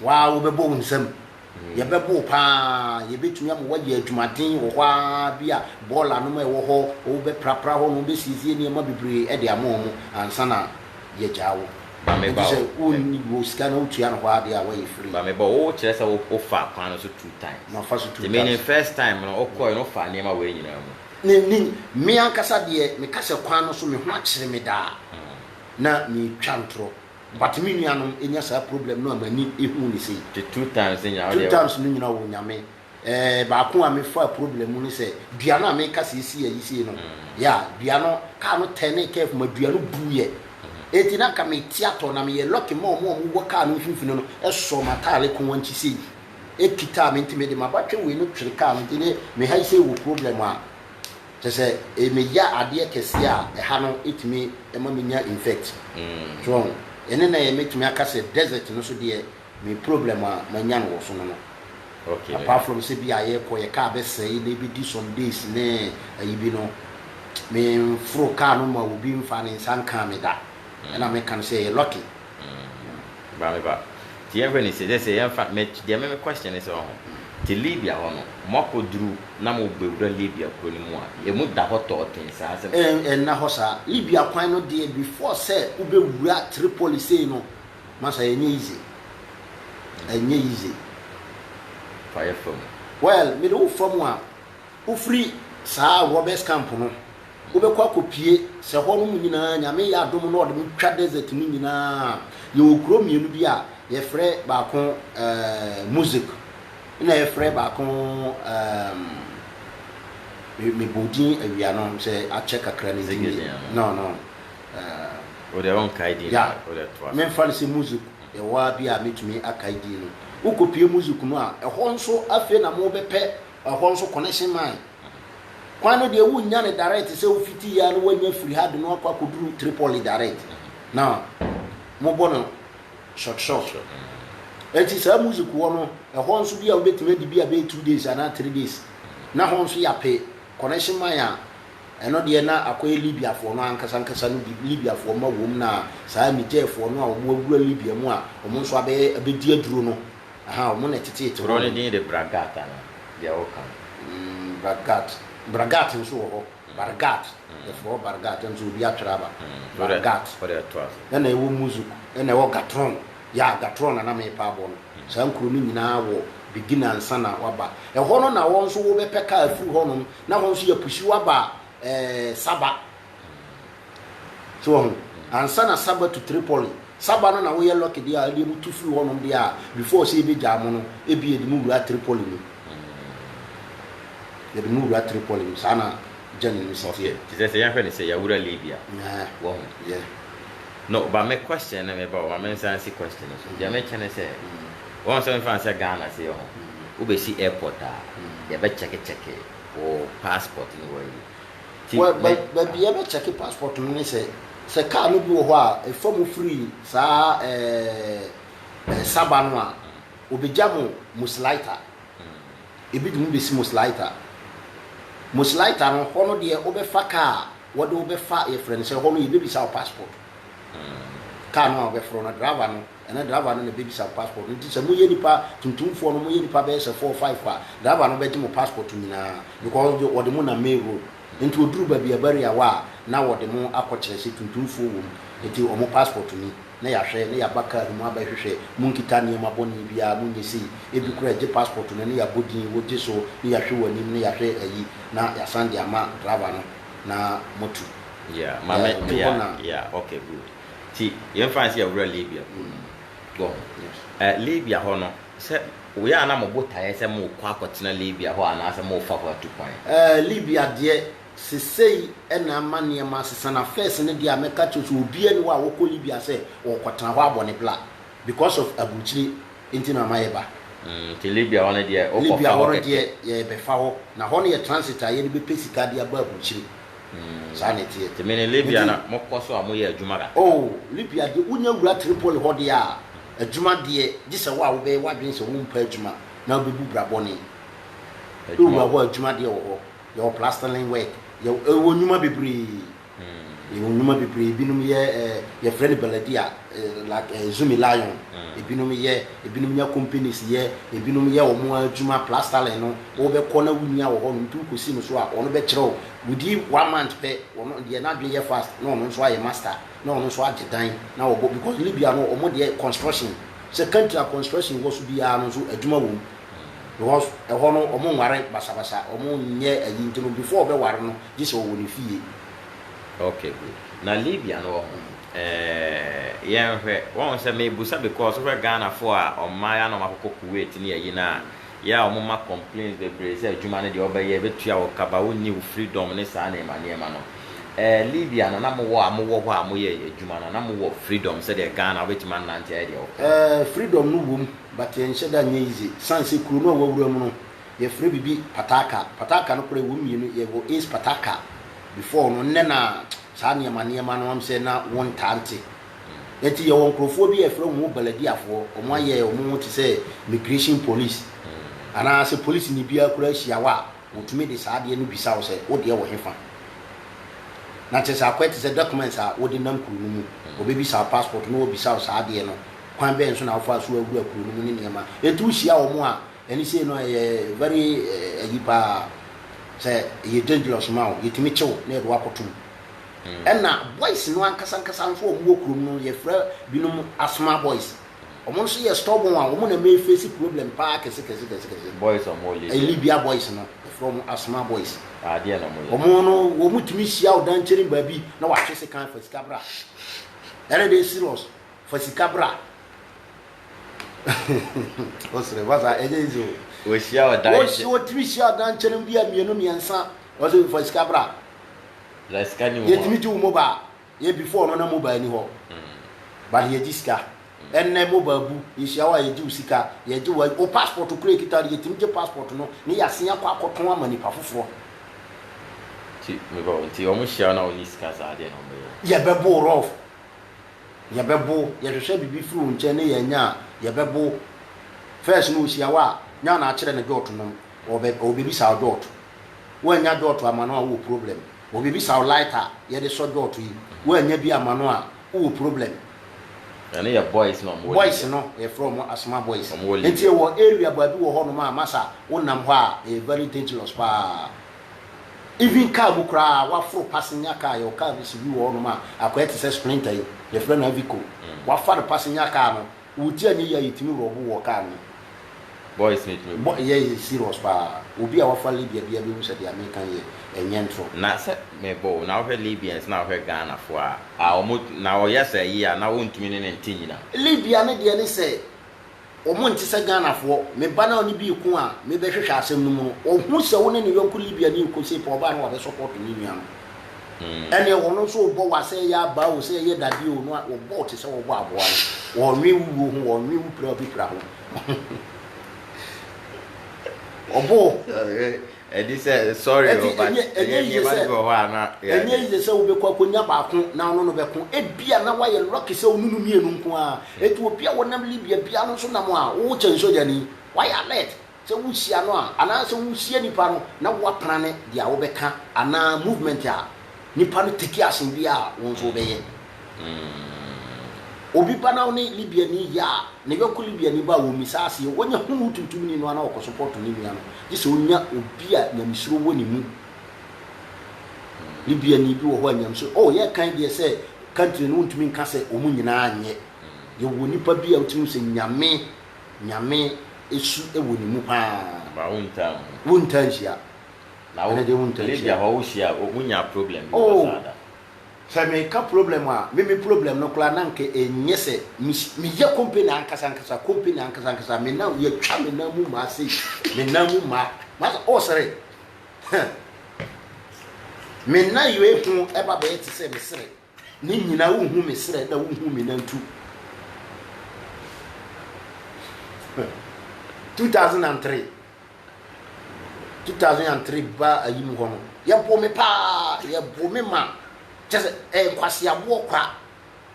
Wo ara wobɛbɔ wo nsam. Yɛbɛbo wo pa ara. Yɛbɛtumi ama woayɛ adwumaden wɔ hɔ ara. Ebia bɔɔla nom a ɛwɔ hɔ, wobɛprapra hɔ nom, wobɛsiesie nneɛma bebree de ama wɔn ansa na yɛagyaa wo. Ma me ba o. Ɛnti sɛ wonni wɔ sika na wotua no hɔ ara deɛ a, woayɛ free. Ma me ba o. Wo kyerɛ sɛ wo faa kwan no so two times. Ma fa so two times. Nti menim first time no, wo kɔɔɛ no, wo faa nneɛma wei nyinaa mu. Menim. Me ankasa deɛ, me ka sɛ kwan no so, me ho akyere me daa. Na me twa ntorɔ. But me nua nom nya saa problem no a m'ani ehu no sei. The two times no nyinaa wodeɛ. Two times no nyinaa o Nyame eh baako a me faa problem mu ne sɛ dua no a me ka sɛ esi ayi sei no yeah dua no car no turnee curve ma dua no buu yɛ enti na nka me ti atɔ na me yɛ lucky ma ɔmo a ɔmo wɔ car no mfimfini no sɔɔ m'ataare ko wankyi sei ekitaa me nti me de m'abatwɛ wei no twere car no nti ne me ha yi sei wɔ problem a Kyerɛ sɛ ɛyɛ me ya adeɛ kɛseɛ a ɛha no ɛtumi ɛma me nya infect so wahu ɛne na ɛyɛ mɛtumi aka sɛ desert no so deɛ me problem a manya no wɔ so no no apart from sɛ bi a yɛkɔ yɛ car bɛsɛe na ɛbɛdi some days ne ayi bi no me mforo car no ma obi mfaa ne nsa nkaa me da ɛna meka no sɛ ɛyɛ lucky Bra me ba. Nti yɛnhwɛ ne sei, sɛ yɛmfa, me, deɛ me me question ne sɛ wahu, te Libya hɔ no, moakɔduru na mobɛwura Libya kuro no mu a, ɛmu da hɔ tɔɔten saa sɛ. Ɛn, ɛnna hɔ saa. Libya kwan no deɛ, before sɛ wobɛwura Tripoli sei no, masa ɛnyɛ easy. Ɛnyɛ easy. Fa yɛ fa mu. Well, mede wo fa mu a, wofiri saa robbers camp no. Wobɛkɔ akɔpue sɛ hɔnom nyinaa, Nyame yɛ adom na ɔde mo twa desert no nyinaa a, yɛwɔ kuro mmienu bi a yɛfrɛ baako eh, Muzik na yɛfrɛ baako ehm, me- mebɔ din awia no sɛ akyɛ kakra me Ɛnyɛ din a, no. no no eh, Wo deɛ wonkae din ya, no, wo deɛ toa so. memfa no sɛ Muzik ɛhɔ ara bi a mɛtumi akae din no. Wokɔpue Muzik no a, ɛhɔ nso afei na mobɛpɛ ɛhɔ nso connection mine. Kwan no deɛ wonnya no direct sɛ wofiti yɛ a na woanya firi ha de no akɔ akɔduru Tripoli direct na mobɔ no short short. Ɛnti saa music hɔ no ɛhɔ nso bi a wobɛtumi adi bi a bɛyɛ two days anaa three days na hɔ nso yɛape connection man a ɛno deɛ na akɔyɛ Libya foɔ no ankasa ankasa no bi Libya foɔ ma wom na saa Niger foɔ no a wɔn awura Libya mu a wɔn nso abɛyɛ abɛdi aduro no Aha, wɔn na ɛteteete hɔ. Kuro no din de Bragat anaa? Deɛ woka no. Mm, Bragat. Bragat nso wɔ hɔ. Bargat. Yɛfrɛ hɔ Bargat. Ɛno nso obi atwerɛ aba. Bargat. Wode to ase. Ɛna ɛwɔ Muzuk. Ɛna ɛwɔ Gatron. Ya, Gatron na na merepɛ abɔ no. Saa nkuro no nyinaa wɔ beginner ansa na woaba. Ɛhɔ no na wɔn nso wobɛpɛ kaa afiri hɔnom, na hɔ nso yɛapushi wo aba ɛɛ Saba. So wahu? Ansa na Saba tu Tripoli, Saba no na woyɛ lucky deɛ a ɛdeɛ mo tu firi hɔnom deɛ a before sɛ yɛbɛgyaa mo no, ebi yɛde mo wura Tripoli mu. Yɛde mo wura Tripoli mu. Saa na journey no si teɛ. Okay, te sɛ sɛ yɛnhwɛ no sɛ yɛawura Libya. Yeah. Wahu? Yeah. No, ba me question no meba o, ma mensan si question no so. Deɛ mekyɛ ne sɛ, wahu sɛ womfa no sɛ Ghana sei ɔho, wobɛsi airport a, yɛbɛkyɛkekyɛke wo passport ne w'ayi. Baabi yɛbɛkyɛke passport no ne sɛ, sɛ kaa no bi wɔ hɔ a ɛfa mu firi saa ɛɛ Saba no a, wɔbɛgya mo Musseliter. Ebi de mo bɛsi Musseliter. Musseliter no, hɔ no deɛ wobɛfa kaa a, wɔde wobɛfa yɛfrɛ no sɛ hɔ no yɛbɛbisa wo passport. Kaa no a wobɛforo no, driver no. Ɛnɛ driver no na ɛbɛbisa wo passport no nti sɛ moyɛ nipa tuntumfoɔ no moyɛ nipa bɛyɛ sɛ four five a driver no bɛgye mo passport nyinaa because wɔde mo nam main road nti ɔduru baabi a ɛba area wa a na wɔde mo akɔ kyerɛ sɛ tuntumfoɔ wɔ mu nti wɔn passport ni na yɛahwɛ na yɛaba car no mu abɛhwehwɛ monkita nneɛma bɔne biara monyɛ sei ebi koraa ɛgye passport no na yɛabɔ din wogye so na yɛahwɛ wɔn anim na yɛahwɛ ayi na yɛasan de ama driver no na moatu. Yeah, maame, yeah, yeah, okay, good. Nti yɛmfa no sɛ yɛwura Libya bɔ ɛ Libya hɔ no sɛ woyɛ a na mo botaeɛ sɛ mokɔ akɔtena Libya hɔ anaasɛ morefa hɔ atu kwan? Ɛ Libya deɛ sesei na ama nneɛma asesa na first no deɛ a mɛka akyerɛ wo sɛ obiara nni hɔ a ɔkɔ Libya sɛ ɔrekɔtena hɔ abɔ ne bla because of aburukyire nti na ama yɛba. Mm nti Libya hɔ no deɛ wokɔfa hɔ kɛkɛ. Libya hɔ no deɛ yɛrebɛfa hɔ na hɔ no yɛ transit a yɛde bɛpɛ sika de aba aburukyire Mm, saa na ɛteɛ. Tèmi ne Libya na mo kɔ so a mo yɛ adwuma kakra. Oh, Libya deɛ wonya wura Tripoli hɔ deɛ a, adwuma deɛ, gye sɛ wo a wobɛyɛ w'adwene sɛ wo mpɛ adwuma na wobɛbu bra bɔne. Wowura hɔ a, adwuma deɛ wɔ hɔ. Yɛwɔ plastering work, yɛwɔ, yɛwɔ nnwuma bebree. Mm. Yɛwɔ nnwuma bebree, ebinom yɛ, eh, yɛfrɛ no baladia, eh, like, eh, Zumi Lion, mm. ebinom yɛ, Ebinom nya companies yɛ, ebinom yɛ wɔn adwuma, plastering no wo bɛ kɔ na wo nua wɔ hɔ nom nti wo kɔ si no so a ɔno bɛ kyerɛ wo within one month pɛ ɔno deɛ n'adwene yɛ fast na ɔno nso ayɛ master na ɔno nso agye dan na ɔbɔ because Libya no wɔn deɛ construction sɛ country a construction wɔ so biara no nso adwuma wɔ mu because ɛhɔ no wɔn nware basabasa wɔn nyɛ ayi nti no before ɔbɛ ware no gye sɛ ɔwɔ ne fie Ok good na Libya no wɔ ho? Ɛɛɛɛ yɛnhwɛ, wahu sɛ mebusa because wohwɛ Ghana foɔ a ɔmaa yɛ a na ɔmo akɔkɔ Kuwait ne ayi no a yɛ a ɔmo ma complains bebree sɛ adwuma no deɛ ɔbɛyɛ ɛbɛtua wo kaba wonni wo freedom ne saa nneɛma nneɛma no ɛɛ Libya no na mowɔ a mowɔ hɔ a moyɛ adwuma no na mowɔ freedom sɛdeɛ Ghana wobɛtumi anante ayɛ deɛ wopɛ. Ɛɛ freedom no wom but ɛnhyɛ da nyɛ easy sane sɛ kuro no a wawura mu no Yɛfrɛ biribi pataka. Pataka no koraa ɛwɔ mu mmienu. Yɛwɔ Ace pataka before no. Nnɛ na saa nneɛma nneɛma no wɔn sɛ na wɔntaa nte. Ɛnti yɛwɔ nkorɔfoɔ bi a yɛfrɛ wɔn Baladiafoɔ. Wɔn ayɛ wɔn ho te sɛ Immigration Police. Anaa sɛ polisini biara koraa hyia wo a, wɔtumi de saa adeɛ no bisa wo sɛ wo deɛ wɔ hefa. Na kyerɛ sɛ akɔyɛ te sɛ documents a wode nam kuro no mu. Wɔbɛbisa wo passport na wɔabisa wo saa adeɛ no. Kwan bɛn so na wofaa so awura kuro no mu ne nneɛma. Ɛnti wohyia wɔn a, Ɛne sei no ɛyɛ very ayi paa sɛ ɛyɛ dangerous ma wo yɛtumi kye wo na yɛde wo akɔto mu. Ɛna boys no ankasa ankasa nso a wɔn wɔ kurom no yɛfrɛ binom asthma boys. Wɔn nso yɛ stubborn a wɔn na ɛma yɛface problem paa kɛse kɛse kɛse kɛse. Boys a wɔwɔ Libya. Libya boys no yɛfrɛ wɔn asthma boys. Adeɛ na wɔn yɛ. Wɔn no wɔn tumi hyia wo dan kyɛrin baabi na wɔatwe sekan fa sika bra. Ɛne deɛ serious fa sika bra. ɔsrɛ fa saa ɛnyɛ izi o wɔhyia ɔdankyɛ wɔtumi hyia ɔdankyɛ no bi a mmienu mmiɛnsa ɔsɛ fa sika bra la sika ni yɛtumi gye wo mobile yɛ before no na mobile ni hɔ hmm. but yɛgye sika hmm. ɛnɛ mobile bu yɛhyia wo a yɛgye wo sika yɛgye wo wo passport kura kita no yɛtumi gye passport no ne yɛasen akɔ akɔtɔn ama nipa foforɔ nti wɔn hyia na wɔn ni sika saa deɛ na wɔn bɛyɛ yɛbɛbo rɔf Yɛbɛbo, yɛhwehwɛ bibi firi wo nkyɛn ne yɛanya a, yɛbɛbo. First no ɔhyia wo a, nya na akyerɛ no dwɔɔto nom. Ɔbɛ, ɔbɛbisa wo dwɔɔto. Woannya dwɔɔto ama no a, wowɔ problem. Ɔbɛbisa wo lighter a yɛde sɔ dwɔɔto yi. Woannya bi ama no a, wowɔ problem. Ɛno yɛ boys na wɔn wɔ Libya. Boys no, yɛfrɛ wɔn asthma boys. Wɔn wɔ Libya. Nti ɛwɔ area baabi wɔ hɔnom a, masa wonam hɔ a, ɛyɛ very dangerous paa. Even car mu koraa waforo passenger car yɛwɔ car bi si bi wɔ hɔnom a akɔyɛ te sɛ sprinter yi yɛfrɛ no Avico wafa no passenger car no wotie a ne yie a yɛtumi rɔbo wɔ car no mu. Boys no tumi gu. Yɛ yɛ serious paa obi a wafa Libya biara bɛhu sɛ deɛ meka yi yɛ nyɛ ntorɔ. Na sɛ mebɔ o na wohwɛ Libyans na wohwɛ Ghanafoɔ a ah wɔn na ɔyɛ saa yie a na wontumi ne no nte nyina. Libya no deɛ ne sɛ. Wɔn nte sɛ Ghanafoɔ. Me ba no a ɔne bi reko a mebɛhwehwɛ asɛm no mu no, ɔhu sɛ wo ne ne yɔnko Libiani rekɔ sei pɛ ɔbaa no wabɛ support ne nua no. Ɛneɛ wɔn nso rebɔ wa sɛ ɛyɛ abaa o, sɛ ɛyɛ dadeɛ o, na wɔbɔ wo te sɛ wɔrebɔ aboa no. Wɔnnwen wo wuo ho, wɔnnwen wo pira a wobɛpira ho. Wɔbɔ wo. Ɛde sɛ sorry o, but ɛnyɛ yie sɛ ɛnyɛ yie sɛ wobɛkɔ akɔnya baako na wo ne no bɛko. Ebia na woayɛ lucky sɛ wo ne no mmienu nko ara. Enti obi a ɔnam Libya biara no nso nam a, wo kyɛn sogyani. Woayɛ alert sɛ wohyia no a, anaasɛ wohyia nipa no na woapra ne deɛ a wobɛka anaa movement a Nipa no teki asen biaa a, wo nso wobɛyɛ. Obi ba na ɔne Libiani yɛ a, ne yɔnko Libiani ba a, wɔmmisa aseɛ. Wɔnyɛ hunu wo tuntumni no a na ɔkɔsopɔɔto ne nua no, gye sɛ ɔnya obi a nyamesuro wɔ ne mu. Libiani bi wɔ hɔ a nyamesuro, oh, yɛrekan deɛ sɛ country no wontumi nka sɛ wɔn nyinaa nyɛ. Yɛwɔ nipa bi a wotumi hu sɛ Nyame, Nyame su wɔ ne mu paa. Ba wontaa nhu. Wontaa nhyia. Na wo de wo ntakyia. Lady a hɔ wo hyia a wo nya problem bi wɔ saa da. Oh sɛ me ka problem a me me problem no koraa na nka ɛnyɛ sɛ me me yɛ company ankasa ankasa company ankasa ankasa me nan yɛ twa me nan mu maa sei me nan mu maa ma sɛ oh sere huh me nan yɛ ho ɛba bɛyɛ te sɛ me sere Ne nyina wo hu me serɛ na wo hu me nantu. Huh. 2003 2003 ba ayi mu hɔ no yɛboo me paa yɛboo me ma kyɛ sɛ ɛyɛ nkwaseaboɔ kwa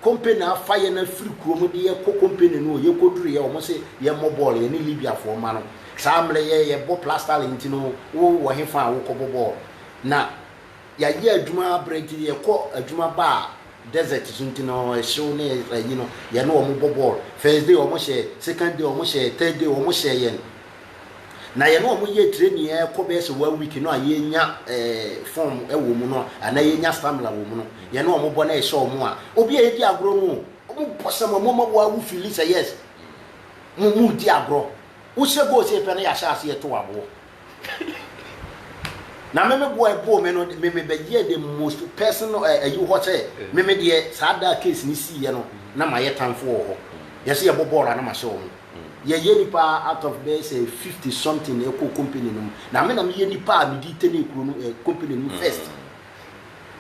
company afa yɛn afiri kurom de yɛkɔ company no yɛkɔduru yɛ wɔn se yɛmmɔ bɔɔl yɛ ne libiafoɔ mma no saa mmerɛ yɛ yɛbɔ plastalin nti no wowɔ he fa a wokɔbɔ bɔɔl na Yɛayɛ adwuma abrɛ nti yɛkɔ adwuma ba a desert so nti no ɛhyew ne ayi no yɛne wɔn bɔ bɔɔl. First day wɔn hyɛ, second day wɔn hyɛ, third day wɔn hyɛ yɛn. Na yɛne wɔn yɛ training ɛkɔ bɛyɛ sɛ one week no a yɛnya eh, form wɔ mu no anaa yɛnya stamina wɔ mu no yɛne wɔn bɔ na ɛhyɛ wɔn a obi a yɛdi agorɔ no wɔn bɔ sɛ mo mo ma wo fili sɛ yes mo mo di agorɔ. Wohyɛ goal sɛ yɛpɛ no yɛahyɛ aseɛ to aboɔ. Na me me boa ɛboo me no me me bɛyɛ the most person no eh, ayi hɔ sɛ me me deɛ saa da case ne sii yɛ no na ma yɛ tanfo wɔ hɔ yɛsɛ yɛ bɔ bɔɔl a na ma hyɛ wɔn yɛ yɛ nipa out of bɛyɛ sɛ fifty something na ɛkɔ company no mu na me na me yɛ nipa a me di tɛnɛ kuro no eh, company no mu first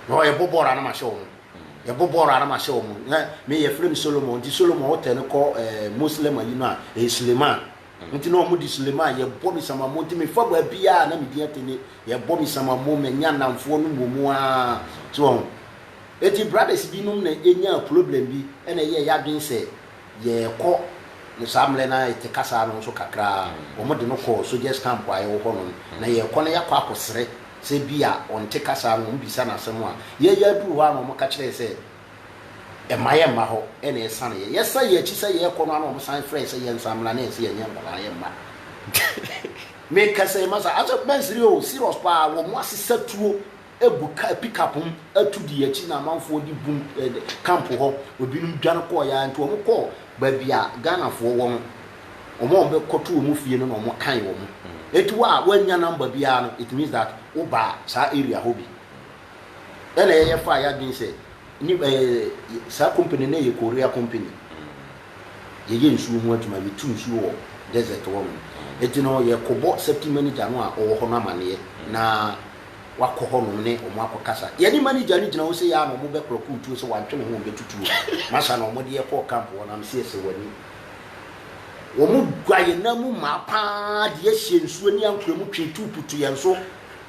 na ɔyɛ bɔ bɔɔl a na ma hyɛ wɔn yɛ bɔ bɔɔl a na ma hyɛ wɔn na me yɛ frɛ me Solomon nti Solomon ɔtɛ no kɔ eh, Muslim ayi no a eh, Suleiman Enti na wɔde Suleman, Yɛbɔ me samammo nti mefa baabiara a na me din ate ne Yɛbɔ me samammo, manya nnamfoɔ no mmom aa. So wɔahu? Enti brothers binom na ɛnyaa problem bi na ɛyɛɛ yɛn adwene sɛ yɛrekɔ no saa mmerɛ no ara ɛte kasaa no nso kakra ara wɔde no kɔɔ soldiers camp a ɛwɔ hɔnom na yɛrekɔ no yɛakɔ akɔsrɛ sɛ bi a ɔnte kasaa no wɔbisa no asɛm a yɛreyɛ aduru hɔ ara na wɔka kyerɛɛ sɛ mma yɛmma hɔ na ɛsane yɛn. Yɛsan yɛn akyi sɛ yɛrekɔ no ara na wɔsan frɛ yɛn sɛ yɛnsan mmra na yɛse yɛnyɛ nkwadaa, yɛmma. Meka sɛ yɛmma saa. Ase mansere o, serious paa. Wɔn asesa tuo agu car, pickup mu atu di akyi na amanfoɔ de bum eh, camp hɔ. Ebinom dwane kɔɔ yɛ nti wɔn kɔɔ baabi a Ghanafoɔ wɔ no. Wɔn a wɔn bɛkɔto wɔn fie no na wɔn kan wɔn. Eti wo a wɔannya number biara no, it means that wo baa saa area hɔ bi. Ɛna yɛyɛ faa yɛadwene sɛ ni ɛɛ saa company no yɛ Korea company. Yɛyɛ nsuo ho adwuma, yɛtu nsuo wɔ desert hɔ nom. Eti no yɛkɔbɔ safety manager no a ɔwɔ hɔ no amaneɛ na wakɔ hɔ nom ne ɔmo akɔkasa. Yɛne manager no gyina hɔ sei aa na ɔmo bɛklɔkoo tuo sɛ wantwe ne ho ɔmbɛtu tuo. Masa na ɔmo de yɛ kɔɔ camp hɔ no am sɛ yɛsɛ w'ani. Ɔmo gua yɛn nan mu maa paa de yɛhyɛɛ nsuo ne ankorɛ mu twee tube to yɛn so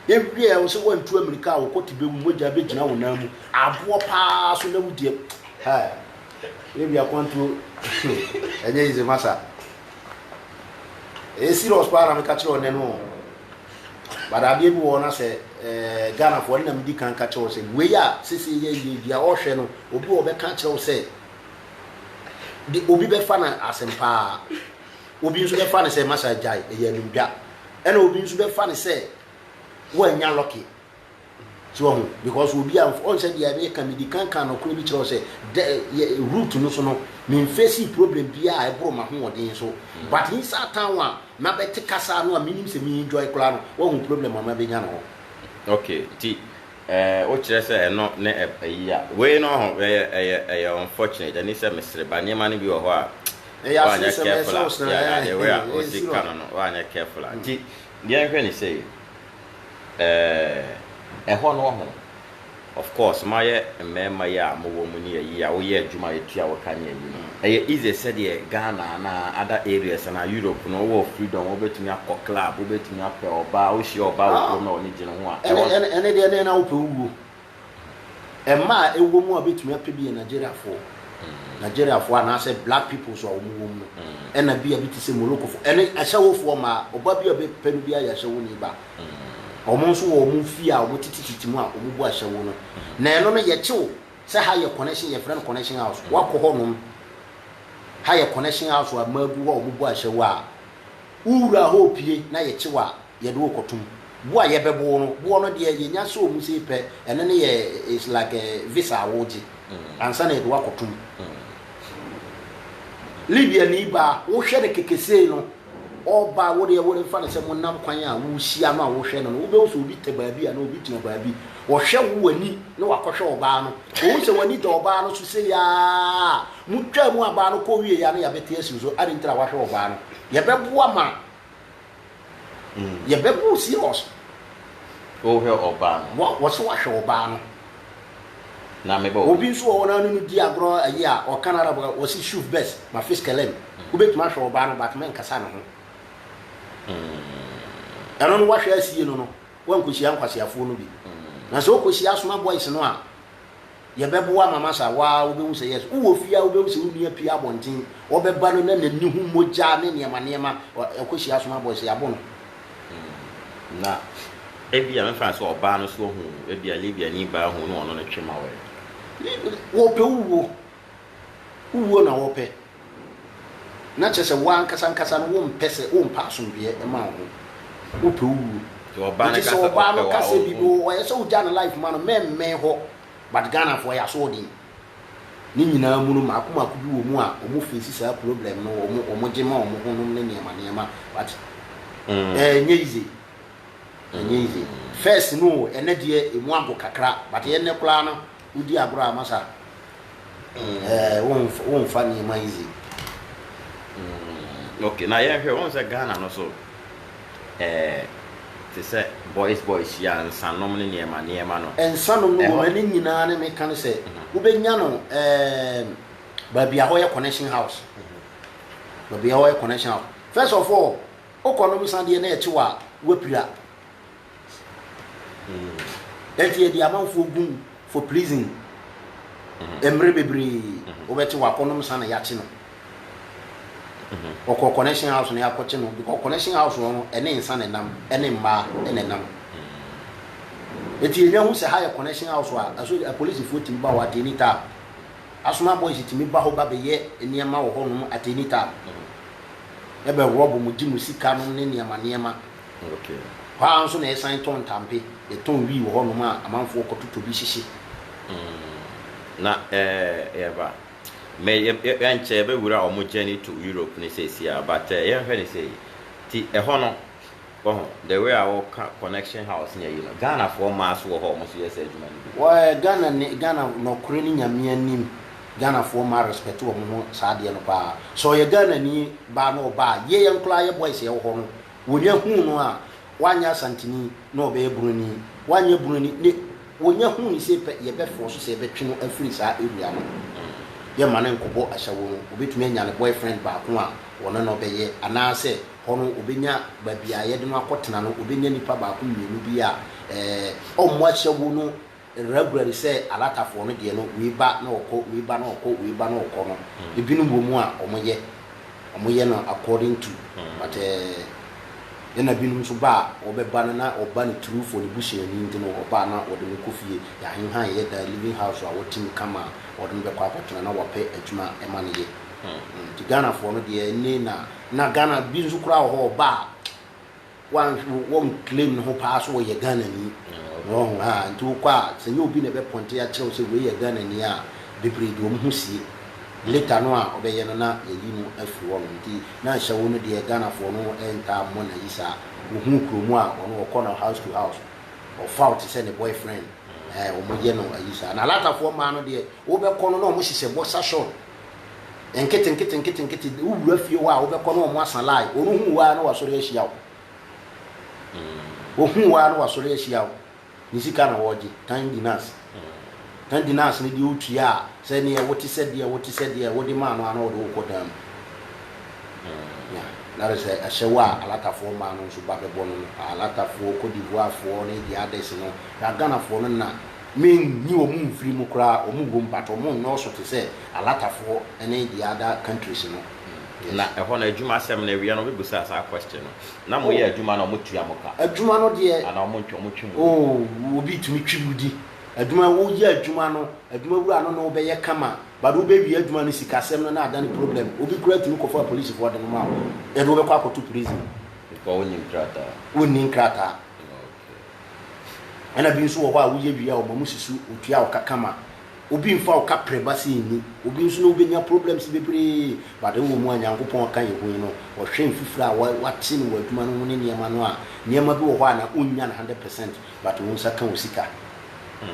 Yɛ wie a wosɛ wantu amirika a wokɔ tibɛ mu mogya bɛ gyina wo nan mu aboɔ paa so na wodi ab. Haa yɛ wie akwantuo ɛnyɛ easy masa ɛyɛ serious paa na meka kyerɛ ɔnɛ no ɔn but adeɛ bi wɔ na sɛ eh, Ghana foɔ ɛna medi kan ka kyerɛ wo sɛ wei a sese yɛ yɛ dua ɔhwɛ no obi wɔ bɛka kyerɛ wo sɛ de obi bɛfa na asɛm paa Obi nso bɛfa no sɛ masa agyae, ɛyɛ animdwa. Ɛna obi nso bɛfa no sɛ woannya lɔke. So wahu? Because obi a ɔn sɛ deɛ meka medi kan ka nɔkorɛ bi kyerɛ wo sɛ dɛ yɛ root no so no memfesi problem biara a ɛboro m'ahoɔden so mm. but inside town a mabɛte kasa no a menim sɛ me enjoy koraa no wahu problem a mabɛnya no hɔ. Okay, ti Ɛɛ wo kyerɛ sɛ ɛno ne ɛ ayi a. Wei no ɔho ɛyɛ ɛyɛ ɛyɛ unfortunate ɛne sɛ mesere ba nneɛma no bi wɔ hɔ a Ɛyɛ woanyɛ asere sɛ careful a mɛsere sere yeah yeah the way a ɛɛ osi nsira. ka no no woanyɛ careful a nti yɛnhwɛ no sei ɛɛ ɛhɔ no ɔho of course moayɛ mmɛɛma yi a mowɔ mu ne ayi a woyɛ adwuma a ɛtua wo ka ne ayi no Ɛyɛ easy sɛdeɛ Ghana anaa other areas anaa Europe no wowɔ freedom wobɛtumi akɔ club wobɛtumi apɛ ɔbaa wohyia ɔbaa wɔ kurom na ɔne gyina ho a ɛhɔ no. Ɛne ɛne deɛ ɛne na wopɛ wowuo mmaa a ɛwɔ mu a wobɛtumi apɛ bi yɛ Nigeriafoɔ Nigeriafoɔ anaasɛ black peoples a wɔn wɔ mu no ɛna bi a bi te sɛ Morokofoɔ ɛne ahyɛwofoɔ mmaa ɔbaa bi a wobɛpɛ no biara yɛ ahyɛwoni ba wɔn nso wɔ wɔn fie a wɔtetetete mu a wɔbu ahyɛwo no na ɛno no yɛkye wo Sɛ ha yɛ connection yɛfrɛ no connection house woakɔ hɔ nom ha yɛ connection house a mmaa gu hɔ a wɔn bɔ ahyɛ wo a wo wura hɔ opie na yɛkye wo a yɛde wo kɔ tom boɔ a yɛbɛ bo wo no boɔ no deɛ yɛnya sɛ wɔn sei pɛ ɛno ne yɛ is like visa a wo gye ansa na yɛde wo akɔ tom Libya ni baa wo hwɛ no kɛkɛ sei no. Ɔbaa, wo deɛ, wo mfa no sɛ monam kwan a wohyia no a wohwɛ no no, wobɛhu sɛ obi te baabi anaa obi gyina baabi. Ɔhwɛ wo w'ani na wakɔhwɛ ɔbaa no. Ohu sɛ w'ani da ɔbaa no so sei ara a, motwaa mu abaa no kɔ wieeɛ a na yɛabɛte asi wo so. Adɛn nti na woahwɛ ɔbaa no? Yɛbɛboa ma yɛbɛbɔ wo serious. Wohwɛ ɔbaa no? Wɔ, wɔse woahwɛ ɔbaa no. na me bɔ. Obi nso wɔ hɔ na ɔne no di agorɔ ayi a ɔka no Arab a ɔse shuf bes ma fis kelem, wobɛtumi ahwɛ ɔbaa no but menkasa ne ho. Ɛno no woahwɛ asie no no woankɔhyia nkwaseafoɔ no bi. Na sɛ wokɔhyia asoma boys no a yɛbɛboa ma masa wo ara wobɛhu sɛ yes wowɔ fie a wobɛhu sɛ wo nua pue abɔnten ɔbɛba no na n'ani ho mogya ne nneɛma nneɛma ɔkɔhyia asoma boys yɛabo no Na ebia mɛfa no sɛ ɔbaa no nso hu, ebia Libiani baa hu na ɔno ne twe ma wɔe. Wɔpɛ wo wuo. Wo wuo na wɔpɛ. Na kyerɛ sɛ wo ankasa ankasa no wompɛ sɛ, wompɛ asomdwoeɛ mma wo ho. Wopɛ wo wuo. Megye sɛ ɔbaa no ka sɛ bi no, ɛyɛ sɛ wogya ne life ma no, mɛmmɛn hɔ. But Ghanafoɔ, yɛn aso ɔden. Ne nyinaa mu no, mmaako mmaako bi wɔ mu a wɔfeesi saa ploblɛm no, wɔgye ma wɔn honom ne nneɛma nneɛma. Wate? Ɛnyɛ yize. Ɛnyɛ yize. Fɛs no, ɛnɛ deɛ emu ago kakra, but yɛ nnɛ koraa no, wodi agorɔ a, masa. Wonfa nneɛma yize. Ok, na yɛnhwɛ, wɔn sɛ Ghana no so, ɛɛ, te sɛ boys boys yi a, nsanom ne nneɛma nneɛma no. Nsanom no wom, ɛne nyinaa ne meka ne sɛ, wobɛnya no ɛɛm, baabi a hɔ yɛ connection house, baabi a hɔ yɛ connection house. First of all, wokɔ nom nsa deɛ na ɛkye wo a, woapira. Enti yɛde amanfoɔ gu mu for prison mmerɛ bebree. Wobɛte wakɔnom nsa na yɛakye no. Ɔkɔɔ connection house na yɛakɔkye no because connection house hɔ no ɛne nsa na ɛnam ɛne mmaa na ɛnam. Enti yɛnya hu sɛ ha yɛ connection house a ɛso apolisifoɔ tumi ba hɔ at any time. Asoma boys tumi ba hɔ ba bɛyɛ nneɛma wɔ hɔnom at any time. Ɛbɛ rob mo, gye mo sika nom ne nneɛma nneɛma. Hɔ ara nso na yɛsan tɔn ntampe, yɛtɔn wii wɔ hɔnom a amanfoɔ kɔtotɔ bi hyehye. Na yɛba me yɛnkyɛ yɛbɛwura wɔn journey to Europe no seesei a but yɛnhwɛ no sei, nti ɛhɔ no wahu the way a woka connection house ne ayi no Ghanafoɔ mmaa nso wɔ hɔ a wɔn nso yɛ saa adwuma no bi? Ghana ne Ghana nɔkorɛ ne Nyame anim Ghanafoɔ mmaa respect wɔn ho saa adeɛ no paa, sɛ ɔyɛ Ghanani baa na ɔba a yɛn nkoraa yɛ boys a yɛwɔ hɔ no Wonya huu no a, wanyɛ Asanteni na ɔbɛyɛ Broni, wanyɛ Broni ne wonya huu no sei pɛ, yɛbɛfoɔ so sɛ yɛbɛtwe no afiri saa area no ho. Yɛmma no nkɔbɔ asawo no, ɔbɛtumi anya ne boyfriend baako a ɔne no bɛyɛ, anaasɛ hɔ no ɔbɛnya baabi a yɛde no akɔtena no, ɔbɛnya nipa baako mmienu bi a ɛɛ ɔmmɔ asawo no. Ragura no sɛ Alatafoɔ no deɛ no wei ba na ɔkɔ, wei ba na ɔkɔ, wei ba na ɔkɔ no, ebinom wɔ mu a wɔyɛ, wɔyɛ no according to but eh, ɛna binom nso ba a wɔbɛba no na ɔba no through for ne busuani nti no ɔba a na wɔde no kɔ fie, yɛahenhan yɛyɛ dan, living house a wɔtim ka ma wɔde no bɛkɔ akɔtena na wɔapɛ adwuma ma no yɛ. Nti Ghanafoɔ no deɛ ɛnne na, na Ghana bi nso koraa wɔ hɔ ɔba a, Wan wɔn claim ne ho paa so ɔyɛ Ghana ni wɔn ha nti wo kɔ a sɛ nyɛ obi na ɛbɛ pɔnte akyerɛ wo sɛ wei yɛ Ghana ni a bebree de wɔn ho sie later no a ɔbɛyɛ no na yayi no afiri hɔ nom nti na nhyɛ wo no deɛ Ghana foɔ no ntaa mmɔ nayi saa wo hu kuro mu a ɔno ɔkɔ no house to house ɔfa wo te sɛ ne boyfriend ɛɛ wɔn yɛ no ayi saa na Alata foɔ mmaa no deɛ wo bɛ kɔ no na wɔn hyehyɛ boxer short. Nketenketenketenkete, wo wura fie hɔ a wobɛkɔ na wɔn asa line, wɔn hu wo ara na wɔasɔre ahyia wo. Wɔhu wo ara na wɔasɔre ahyia wo. Ne sika na wɔregye, tan dinas. Tan dinas no deɛ wotua a, sɛ neɛ wote sɛ deɛ wote sɛ deɛ wode maa no a na ɔde wo kɔ dan mu. Yeah, that is a ahyɛwo a Alatafoɔ mmaa no nso ba bɛbɔ no no. Alatafoɔ, Cote d'Ivoirefoɔ ne the others no, na Ghanafoɔ no na Mennyi wɔn mfiri mu koraa, wɔn wom but wɔn nnɔɔso te sɛ Alatafoɔ ne the other countries no. Yes. Na ɛhɔ no adwuma asɛm no awia no ɔbɛbusaa saa question no. Na mo yɛ adwuma no a wɔtua mo ka? Adwuma no deɛ. Anaa wɔn ntwe wɔn twe mo di? Oh obi tumi twe wo di. Adwuma wo yɛ adwuma no adwuma wura no ne wo bɛyɛ kama but wo bɛ wie adwuma no sika sɛm no na adane problem obi koraa tumi kɔ fa polisifoɔ de no ma wo yɛde wo bɛkɔ akɔto prison. Because wo nni nkrataa. Wo nni nkrataa. Ɛna bi nso wɔ hɔ a woyɛ wie a wɔma mo si so otua wo ka kama. Obi nfa wo ka prɛ ba sɛ nni. Obi nso ne wo bɛnya problems bebree but wowɔ mu a Nyankopɔn ɔka yɛ hui no ɔhwɛ mfifire a wate no wɔ adwuma no ho ne nneɛma no a nneɛma bi wɔ hɔ a na wonnya no 100 percent but wo nsa ka wo sika mm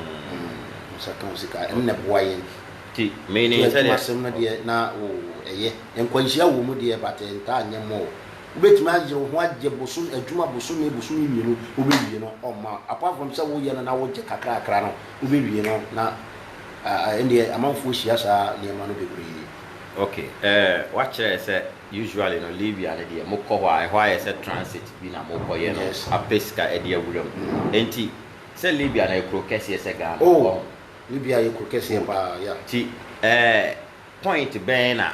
wo nsa ka wo sika ɛno na ɛboa yɛn ti meaning sɛ adwuma asɛm no deɛ na wo ɛyɛ nkwanhyia wɔ mu deɛ but ɛntaa nyɛ more Wobɛtumi ayɛ wo ho agye bosome adwuma bosome bosome mmienu wobɛwie no ɔmma apart from sɛ woyɛ no na wogye kakrakra no wobɛwie no na ɛnneɛ amanfoɔ hyia saa nneɛma no bebree. Ok eh, woakyerɛ sɛ usually no Libya no deɛ mokɔ hɔ a ɛhɔ ayɛ sɛ transit bi na mokɔyɛ no apɛ sika adi awura mu ɛnti sɛ Libya no yɛ kuro kɛseɛ sɛ Ghana oh ɔho? Libya yɛ kuro kɛseɛ paa yeah. Nti eh point bɛn na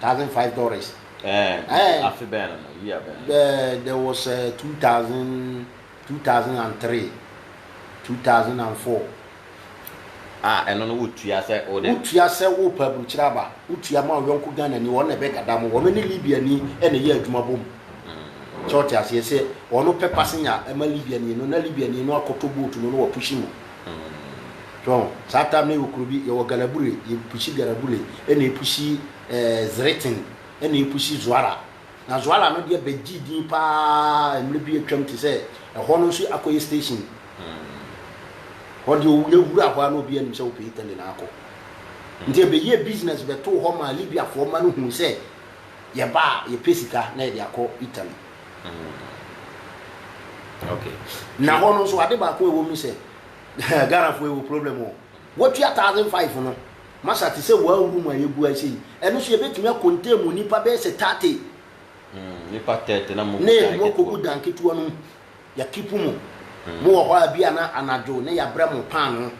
thousand five dollars. Ɛɛ eh, afe bɛn na no year bɛn? Ɛɛ there was uh, two thousand two thousand and three two thousand and four. Ah, ɛno no wotua sɛ o de. Wotua sɛ o pa aburukyerɛ aba wotua ma ɔyɔnko Ghana ni wɔn na ɛbɛ gada mo wɔn ne Libya ni ɛna ɛyɛ adwuma bom. Mm. Sɛ ɔte aseɛ sɛ ɔno pɛ pasenya ɛma Libya ni no na Libya ni no akɔtɔ boat no na wapushi mu. So wahu? Saa time no yɛwɔ kuro bi, yɛwɔ Galabure, yɛpushi Galabure, ɛna yɛpushi eh, Zretin, ɛna yɛpushi Zuara. Na Zuara no deɛ bɛgyee din paa mmerɛ bi atwam te sɛ ɛhɔ no nso akɔyɛ station. Hɔ deɛ owu na wura hɔ a na obiara nim sɛ wopɛ Italy na akɔ. Nti ɛbɛyɛɛ business bɛtoo hɔ maa Libyafoɔ mma no huu sɛ yɛba a yɛpɛ sika na yɛde akɔ Italy. na hɔ no nso ade baako a ɛwɔ mu sɛ ghanafoɔ yɛwɔ problem o wɔtua thousand five no masa te sɛ wɔn room a yɛgu ase yi ɛno so yɛbɛtumi akɔntɛ mu nnipa bɛyɛ sɛ thirty hmm, nipa thirty na mo kɔgu dan ketewa no mu yɛkipu mu hmm. mo wɔ hɔ a bi ana anadwo na yɛabrɛ mo paano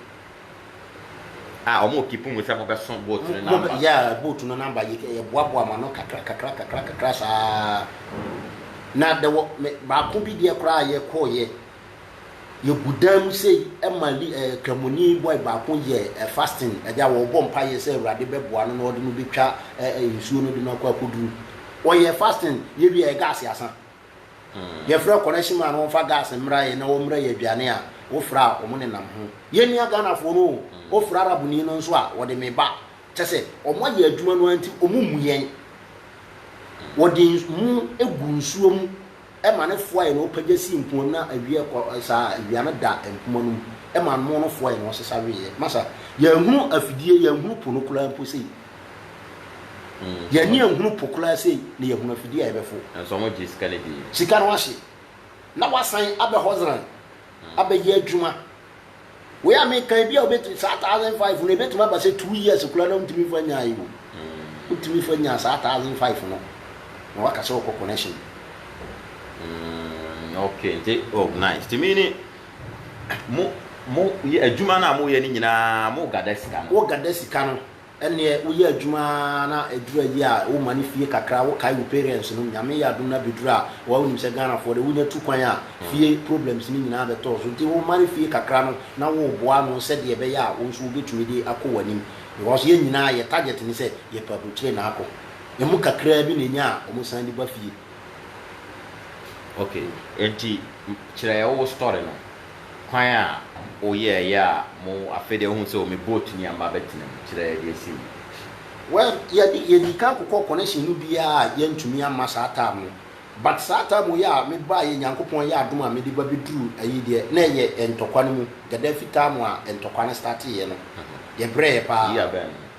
Ah ɔmo keep mu sɛ mo bɛ so boat no number. Mo yeah boat no number yɛ yɛ boa boa ma no kakra kakra kakra kakra saa na dɛ wɔ me baako bi deɛ koraa yɛ kɔɔ yɛ yɛ gu dan mu sei ɛma li ɛɛ eh, kramoni boy baako yɛ eh, fasting ɛgya wɔ bɔ mpa yɛ sɛ awurade bɛ boa no na ɔde no bɛ twa ɛɛ eh, nsuo no de no akɔ akɔduru ɔyɛ fasting yɛ wie yɛ gas asan. Yɛfrɛ connection man wɔmfa gas mmra yɛn na wɔmmra yɛn aduane a, wofra a, wɔn nenam ho. Yɛn nua Ghanafoɔ no o, wofra Arabni no nso a, wɔde me ba. Kyɛ sɛ, wɔn ayɛ adwuma no ara nti, wɔn mmu yɛn. Wɔde mo gu nsuo mu ma no foa yɛn, wɔpagya si mpoano na awia kɔ saa a, awia no da mpoma no mu ma mo no foa yɛn, wɔsesa weeɛ. Masa, yɛanhunu afidie, yɛanhunu po no koraa mpo sei. Yɛn ani anhunu po koraa sei na yɛahunu afidie a yɛbɛforo. Nanso wɔgyee sika no dii. Sika no ahye, na wɔasan aba hɔ zrann abɛyɛ adwuma. Wei a meka yi, bi a wobɛtumi, saa thousand five no, ɛbɛtumi aba sɛ two years koraa na wontumi mfa nyae o. Wotumi fa nya saa thousand five no, na woaka sɛ wokɔ connection. Mm, okay, nti, oh, nice. Tumi ni. Mo, mo yɛ adwuma no a moyɛ no nyinaa, mo gada sika no. Wo gada sika no, ɛneɛ wo yɛ adwuma ara na ɛduru awie a, wo mane fie kakra, wo kae wo parents nom, Nyame yɛ adom no abɛduru a, wa wo nim sɛ Ghanafoɔ deɛ, wo nya tu kwan a, fie problems no nyinaa bɛtɔɔ so, nti wo mane fie kakra no na wo boa ano sɛdeɛ ɛbɛyɛ a, wo nso wo bɛtumi de akɔ w'anim, because yɛn nyinaa yɛ target ne sɛ yɛpɛ abrokyire na akɔ, ɛmu kakraa bi na ɛnya a, wɔn san de ba fie. Ok enti kyerɛ yɛ wo story no kwan a wo yɛɛ yɛ a mo afei deɛ wohu sɛ o me boat ni a mma bɛtena mu kyerɛ yɛ deɛ ɛsi mu. Well yɛde yɛdii kan kokɔɔ connection no bi a yɛantumi amma saa time no but saa time yi a me baeɛ Nyankopɔn ayɛ adom a mede ba bɛduru ayi deɛ na ɛyɛ ntɔkwa no mu Gaddafi time a ntɔkwa no starteeɛ no yɛbrɛeɛ paa. Year bɛn?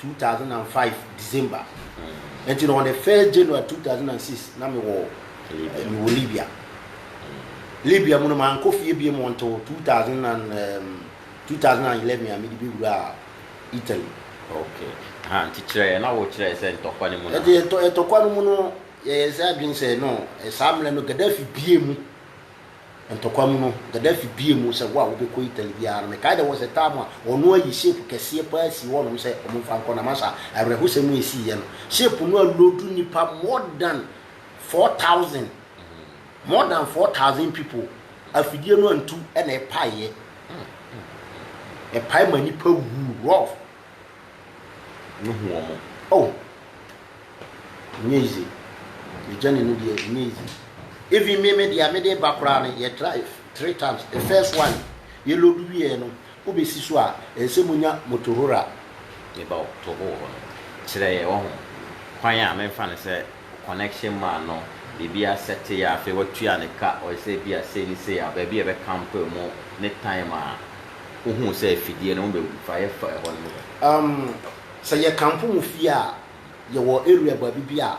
two thousand and five December nti na on the first January two thousand and six na mi wɔ mi wɔ Libya Libya mu no maa nkɔ fie bie mu until two thousand and um, two thousand and eleven a mi de bi wura Italy. okay ha nti kyerɛ yɛ na wɔ kyerɛ sɛ ntɔkwa no mu na. ɛdi ɛtɔ ɛtɔkwa no mu no yɛyɛ sɛ adwene sɛ no saa mmerɛ no Gaddafi bie mu. Ntɔkwa mu no, Gaddafi buee mu sɛ, Wo a wobɛkɔ Italy biara no, mekae dɛ wɔhyɛ tam a ɔno ayi ship kɛseɛ paa sii hɔnom sɛ wɔmfa nkɔ na masa awerɛhosɛm a ɛsiiɛ no. Ship no aloodu nnipa more than 4,000. More than 4,000 people. Afidie no antu na ɛpaeɛ. Ɛpae ma nnipa wuu. Rolf. no hu wɔn. Oh! Ɛnyɛ easy. The journey no deɛ ɛnyɛ easy. Even me me deɛ a mede ba koraa no yɛ drive three times. The first one yɛ load wieɛ no wobɛsi so a ɛsɛ monya motohora a. Meba wɔ to hɔ wɔ hɔ no kyerɛ yɛ wahu kwan a memfa no sɛ connection man no biribi asɛte yɛ a afei watua ne ka ɔyɛ sɛ bi a sei ne sei a baabi a ɛbɛ camp mu ne time a wohuu sɛ afidie no wɔn bɛ fire fa ɛhɔ no mu no. Um, sɛ yɛ kampo mu fie a, yɛ wɔ area baabi bi a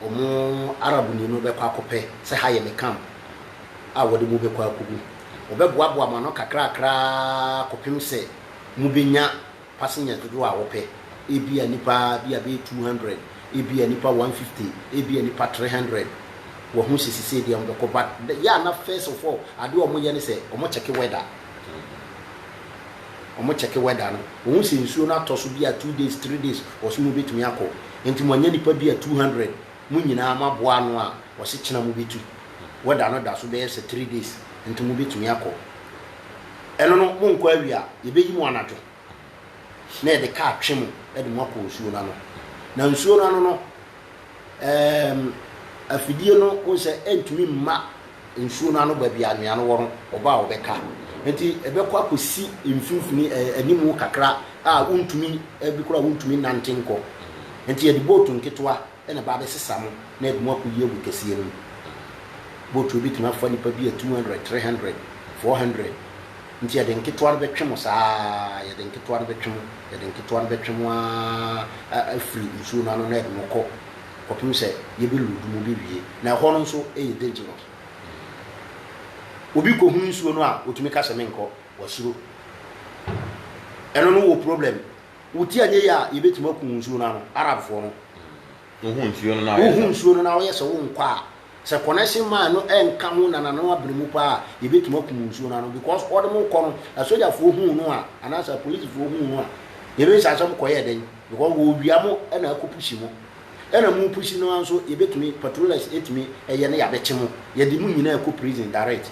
wɔn Arab ni no bɛkɔ akɔpɛ sɛ ha yɛ me camp a wɔde mo bɛkɔ akɔgu. Wɔbɛboaboa mo ano kakrakra ara kɔpem sɛ mo bɛnya Passenger dodoɔ a wopɛ, ebia nnipa bi a bɛyɛ 200, ebia nnipa 150, ebia nnipa 300. Wahu sɛ sisei deɛ wɔbɛkɔ but the yɛ a na first of all adeɛ a wɔyɛ ne sɛ wɔn check weather. Wɔn check weather no, wɔhu sɛ nsuo no atɔ so bi a two days, three days, wɔse mobɛtumi akɔ. Nti mo anya nnipa bi a 200, mo nyinaa moaboa ano a wɔse kyena mobɛtu. Weather no da so bɛyɛ sɛ three days nti mobɛtumi akɔ. Ɛno no, monkɔ awie a, yɛbɛyi mo anadwo, na yɛde ka atwe mo de mo akɔ nsuo no ano. Na nsuo no ano no, ɛɛm, afidie no, wohu sɛ ɛntumi mma nsuo no ano baabi a anwea no wɔ no, ɔba a ɔbɛka. Enti ɛbɛkɔ akɔsi mfimfini, ɛɛ, animu kakra a wontumi, ɛbi koraa wontumi nnante nkɔ. Enti yɛde bootu nketewa na ɛba abɛsesa mo na ɛde mo akɔyi agu kɛseɛ no mu. Botuo bɛtumi afa nnipa bi a 200, 300, 400 nti yɛde nketewa no bɛtwe mo saa ara, yɛde nketewa no bɛtwe mo, yɛde nketewa no bɛtwe mo ara afiri nsuo no ano na ɛde mo kɔ kɔpem sɛ yɛbɛluudu mo bɛwie na ɛhɔ no nso yɛ dangerous. Obi kɔhunu nsuo no a ɔtumi ka sɛ menkɔ, wasuro. Ɛno no wɔ problem. Woti anyɛ yie a yɛbɛtumi aku wo nsuo no ano, Arabfoɔ no. Wohu nsuo no na wɔyɛ sɛ. Wohu nsuo no na wɔyɛ sɛ wonkɔ a, sɛ connection mine no nka ho nanano abene mu paa a, yɛbɛtumi aku mo nsuo no ano because wɔde mo rekɔ no, asogyafoɔ huu no a, anaasɛ apolisifoɔ huu no a, yɛbɛbisa sɛ mokɔyɛɛ dɛn because wɔrewia mo na akɔpushi mo. Ɛna mo pushi no ara nso yɛbɛtumi, patrollers tumi yɛ na yɛabɛkye mo, yɛde mo nyinaa kɔ prison direct.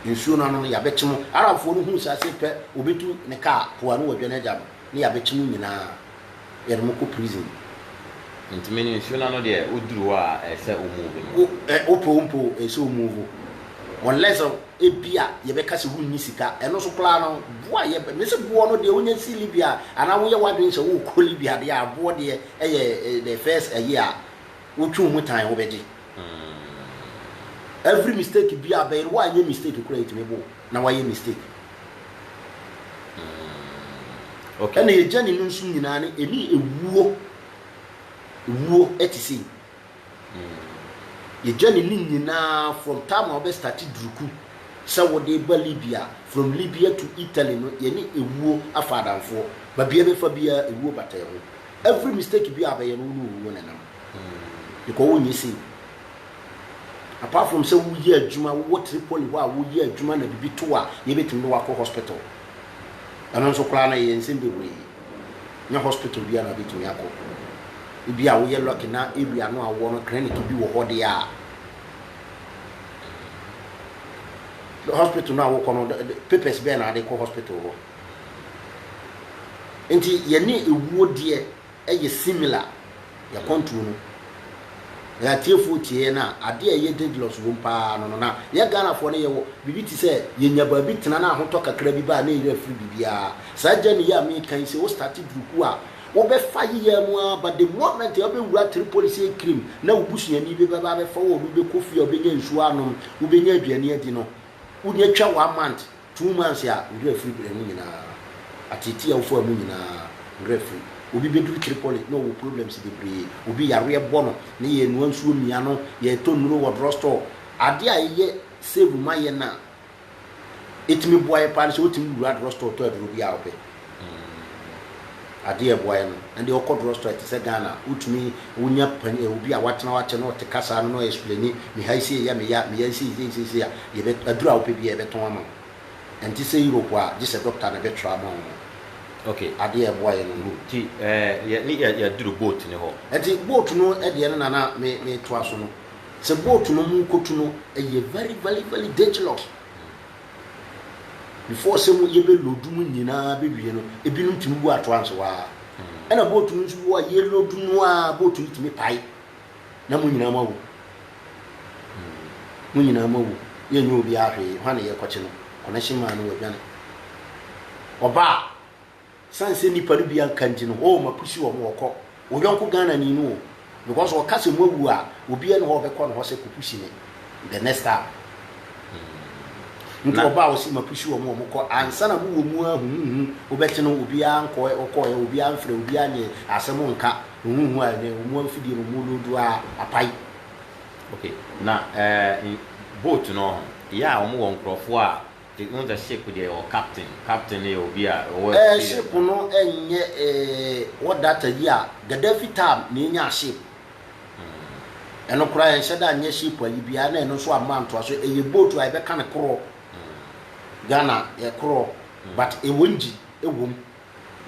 Nsuo no ano no, yɛabɛkye mo. Arabfoɔ no huu saa sɛ pɛ wɔbɛtu ne kaa po ano wɔ dwa no agya no, na yɛabɛkye mo nyinaa, yɛde mo kɔ prison. Nti me ne nsuo no ano deɛ, woduru hɔ a, ɛyɛ sɛ wo move no. Wopɛ o mpɛ o, ɛyɛ sɛ wo move. Unless ebia yɛbɛka sɛ wonni sika, ɛno nso koraa no, boɔ a yɛ, mese boɔ no deɛ wonya si Libya, anaa woyɛ w'adwene sɛ worekɔ Libya deɛ a, boɔ deɛ ɛyɛ the first ɛyɛ a, Wo twe wo ho tan wo bɛgye every mistake bia a bɛyɛ woanyɛ mistake koraa ɛtumi bo na woayɛ mistake okay. ɛna yɛ gyane no nso nyinaa ne ɛne ɛwuo ɛwuo ɛte sei yɛ gyane no nyinaa from time a wobɛ starte duruku sɛ wode ba Libya from Libya to Italy no yɛne ɛwuo afa adamfoɔ babia bɛfa biara ɛwuo bata ho every mistake bi a bɛyɛ no wo ne owuo na ɛnam because wonyɛ sei apart from sɛ woyɛ adwuma wowɔ tripoli hɔ a woyɛ adwuma na biribi to a yɛbɛtumi de wakɔ hospital ɛno nso koraa no ɛyɛ nsɛm bebree nyɛ hospital bi a na bɛtumi akɔ ebi a woyɛ lucky na area no a wowɔ no clinic bi wɔ hɔ deɛ a hospital no a wokɔ no papers bɛɛ na ade kɔ hospital hɔ Nti yɛne ewuo deɛ ɛyɛ similar yɛ kɔntuo no na yɛatiefoɔ tie yɛn a adeɛ a ɛyɛ dangerous wom paa no no na yɛ Ghanafoɔ no yɛwɔ biribi te sɛ yɛnya baabi tena na ahotɔ kakra bi ba a na yɛyerɛ afiri biribiara saa journey yi a meka yi sɛ wo starte durukuo a wobɛfa yeyɛɛ mu ara but the moment a wobɛwura Tripoli sɛ kirim na wo busuani bi bɛba abɛfa wo a obi bɛkɔ fie a wobɛnya nsuo anom wobɛnya aduane adi no wonya twa one month Two months a ngra firi brɛ no nyinaa ateetee a wofaa mu nyinaa ngra firi. Obi bɛduru Tripoli na ɔwɔ problems bebree, obi yareɛ bɔ no na yɛrenoa nsuo mmia no, yɛretɔ nnuro wɔ drugstore. Adeɛ a ɛyɛ save ma yɛn a ɛtumi boa yɛn paa ne sɛ wotumi wura drugstore tɔ aduro biara a wopɛ. mm adeɛ a ɛboa yɛ no ɛnde ɔkɔ drug store te sɛ Ghana wotumi wonya pani eh, obi a watena hɔ akyɛ na ɔte kasaa no na ɔyɛ explaini meha yi sei yɛ me ya meya yi sei sei sei sei a yɛbɛ aduru a wopɛ biara yɛbɛtɔn ama wo ɛnte sɛ Europe a gye sɛ doctor na ɛbɛtwerɛ ama wo ok adeɛ a ɛboa yɛ no no. Nti eh yɛ ne yɛ yɛaduru boat no hɔ. Ɛnti boat no deɛ no na na me metoa so no sɛ boat no mu kɔtu no ɛyɛ very very very dangerous Before sɛ mu yɛbɛ load mu nyinaa bɛ wie no, ebinom tumi wu atoa nso waa. Ɛna boat no nso bi wɔ a yɛ load no a boat no tumi pae. Na mu nyinaa ma wu. Mu nyinaa ma wu. Yɛ nyɛ obi ahwee, hwan na yɛ kɔkye no? Connection man no wadwane. Ɔbaa. San sɛ nipa no bi anka nti no oh ma pusi wɔn ɔkɔ wo yɔnko Ghana ni no o because ɔka sɛ mo awu a obiara ni hɔ a ɔbɛkɔ ne hɔ sɛ kɔ pusi me the next time hmm. nti ɔba a ɔsi ma pusi wɔn wɔn kɔ ansa na mo wɔ mu ahuhuhu wobɛte no obiara nkɔ ɔkɔ ɛ obiara mfrɛ obiara nyɛ asɛm nka huhuhu a ne wɔn afidie no wɔn lodu a apae okay na ɛɛ eh, boat no yɛ a wɔn wɔ nkurɔfoɔ a They own the ship deɛ ɛwɔ captain, captain no yɛ obi a ɔwɔ Eh experience ship paa. no ɛnyɛ eh what data yi a Gaddafi time na yɛnyaa ship. Ɛno koraa yɛnhyɛ da nyɛ ship ayi biara na ɛno nso amma ntoasoɔ. Ɛyɛ boat a yɛbɛka no korɔ. Ghana yɛ korɔ but ɛwɔ engine wɔ mu.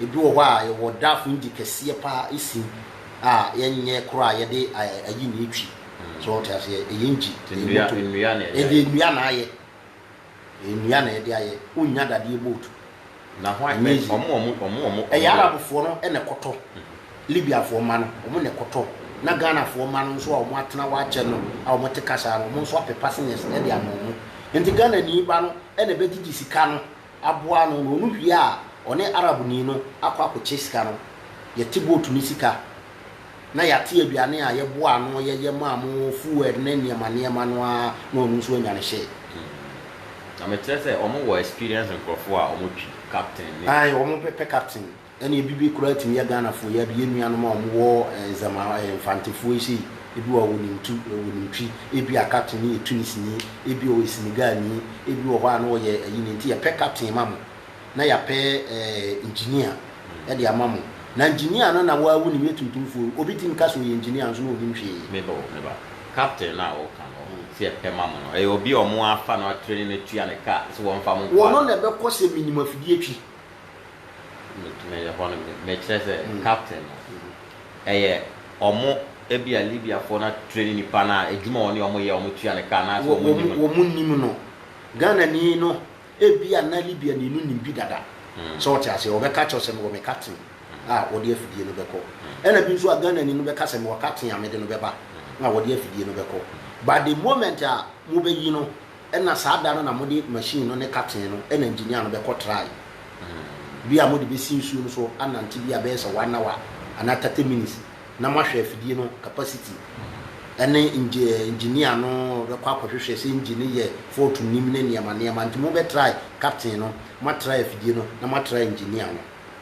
Ebi wɔ hɔ a yɛwɔ draft engine kɛseɛ paa ɛsi a yɛnyɛ korɔ a yɛde ayi na ɛtwi. So wote aseɛ ɛyɛ engine, Nti ɛyɛ nnua motor. nnua na ɛyɛ. Ɛyɛ nnua na ayɛ. Ɛyɛ nnua na yɛde ayɛ. Wonnya dadeɛ boat. Na hwan? Ɛnyɛ easy. Wɔn wɔn wɔn wɔn wɔn. Ɛyɛ Arabfoɔ no na ɛkɔtɔ. Libyafoɔ mma no, wɔn na ɛkɔtɔ. Na Ghanafoɔ mma no nso a wɔn atena hɔ akyɛ no a wɔn te kasa no, wɔn nso apɛ passengers de ama wɔn. Nti Ghanani ba no na ɛbɛgyegye sika no aboa no na ɔno hwie a ɔne Arabni no akɔ akɔkyɛ sika no, yɛte boat no sika na yɛate aduane a yɛboaa ano yɛyɛ maa mo, fuel ne nneɛma nneɛma no ara na ɔno nso anya no hyee. Na mekyerɛ sɛ wɔwɔ experience nkurɔfoɔ a wɔtwi captain ne. Aane wɔpɛ captain. Ɛne ebi bi koraa tumi yɛ Ghanafoɔ yi ade, yɛn nuanom a wɔn wɔ Zama Mfantefoɔ yi sei, ebi wɔ hɔ a wɔnim tu, wɔnim twi, ebi a captain no yɛ Tunisini, ebi ɔyɛ Senegalni, ebi wɔ hɔ a na ɔyɛ ayi no nti yɛpɛ captain ma mo, na yɛapɛ engineer de ama mo, na engineer no na wo ara wonim yɛ tuntumfoɔ yi, obi tumi ka sɛ ɔyɛ engineer nso na ɔnnim hwee. Me ba o, me ba, captain no a wɔka no sɛ yɛpɛ ma mo no, ɛyɛ obi a wɔafa no atraini no atua ne car sɛ wɔmfa mo nkɔ a? Wɔno na ɛbɛkɔ sɛ menim afidie twi, Meyɛ hɔ no, mekyerɛ sɛ captain no ɛyɛ ɔmo ebia Libiafoɔ no atreni nipa no a adwuma a ɔne ɔmo yɛ ɔmo tua no ka anaasɛ ɔmo nim no. Wɔn nim no. Ghanani no ebia na Libiani no nim bi dada. So wote aseɛ? Ɔbɛka akyerɛ wo sɛ mewɔ me captain a ɔde afidie no bɛkɔ. Ɛna bi nso a Ghanani no bɛka sɛ mewɔ captain a mede no bɛba a ɔde afidie no bɛkɔ. But the moment a mobɛyi no, Ɛna saa da no na mode machine no ne katee no ɛna engineer no bɛkɔ try bi a mode bɛsi nsuo no so anante bi a ɛbɛyɛ sɛ one hour anaa thirty minutes na moahwɛ afidie no capacity ɛne engi engineer no bɛkɔ akɔhwehwɛ sɛ engine no yɛ fault nnim ne nneɛma nneɛma nti mobɛ try captain no moatry afidie no na moatry engineer no.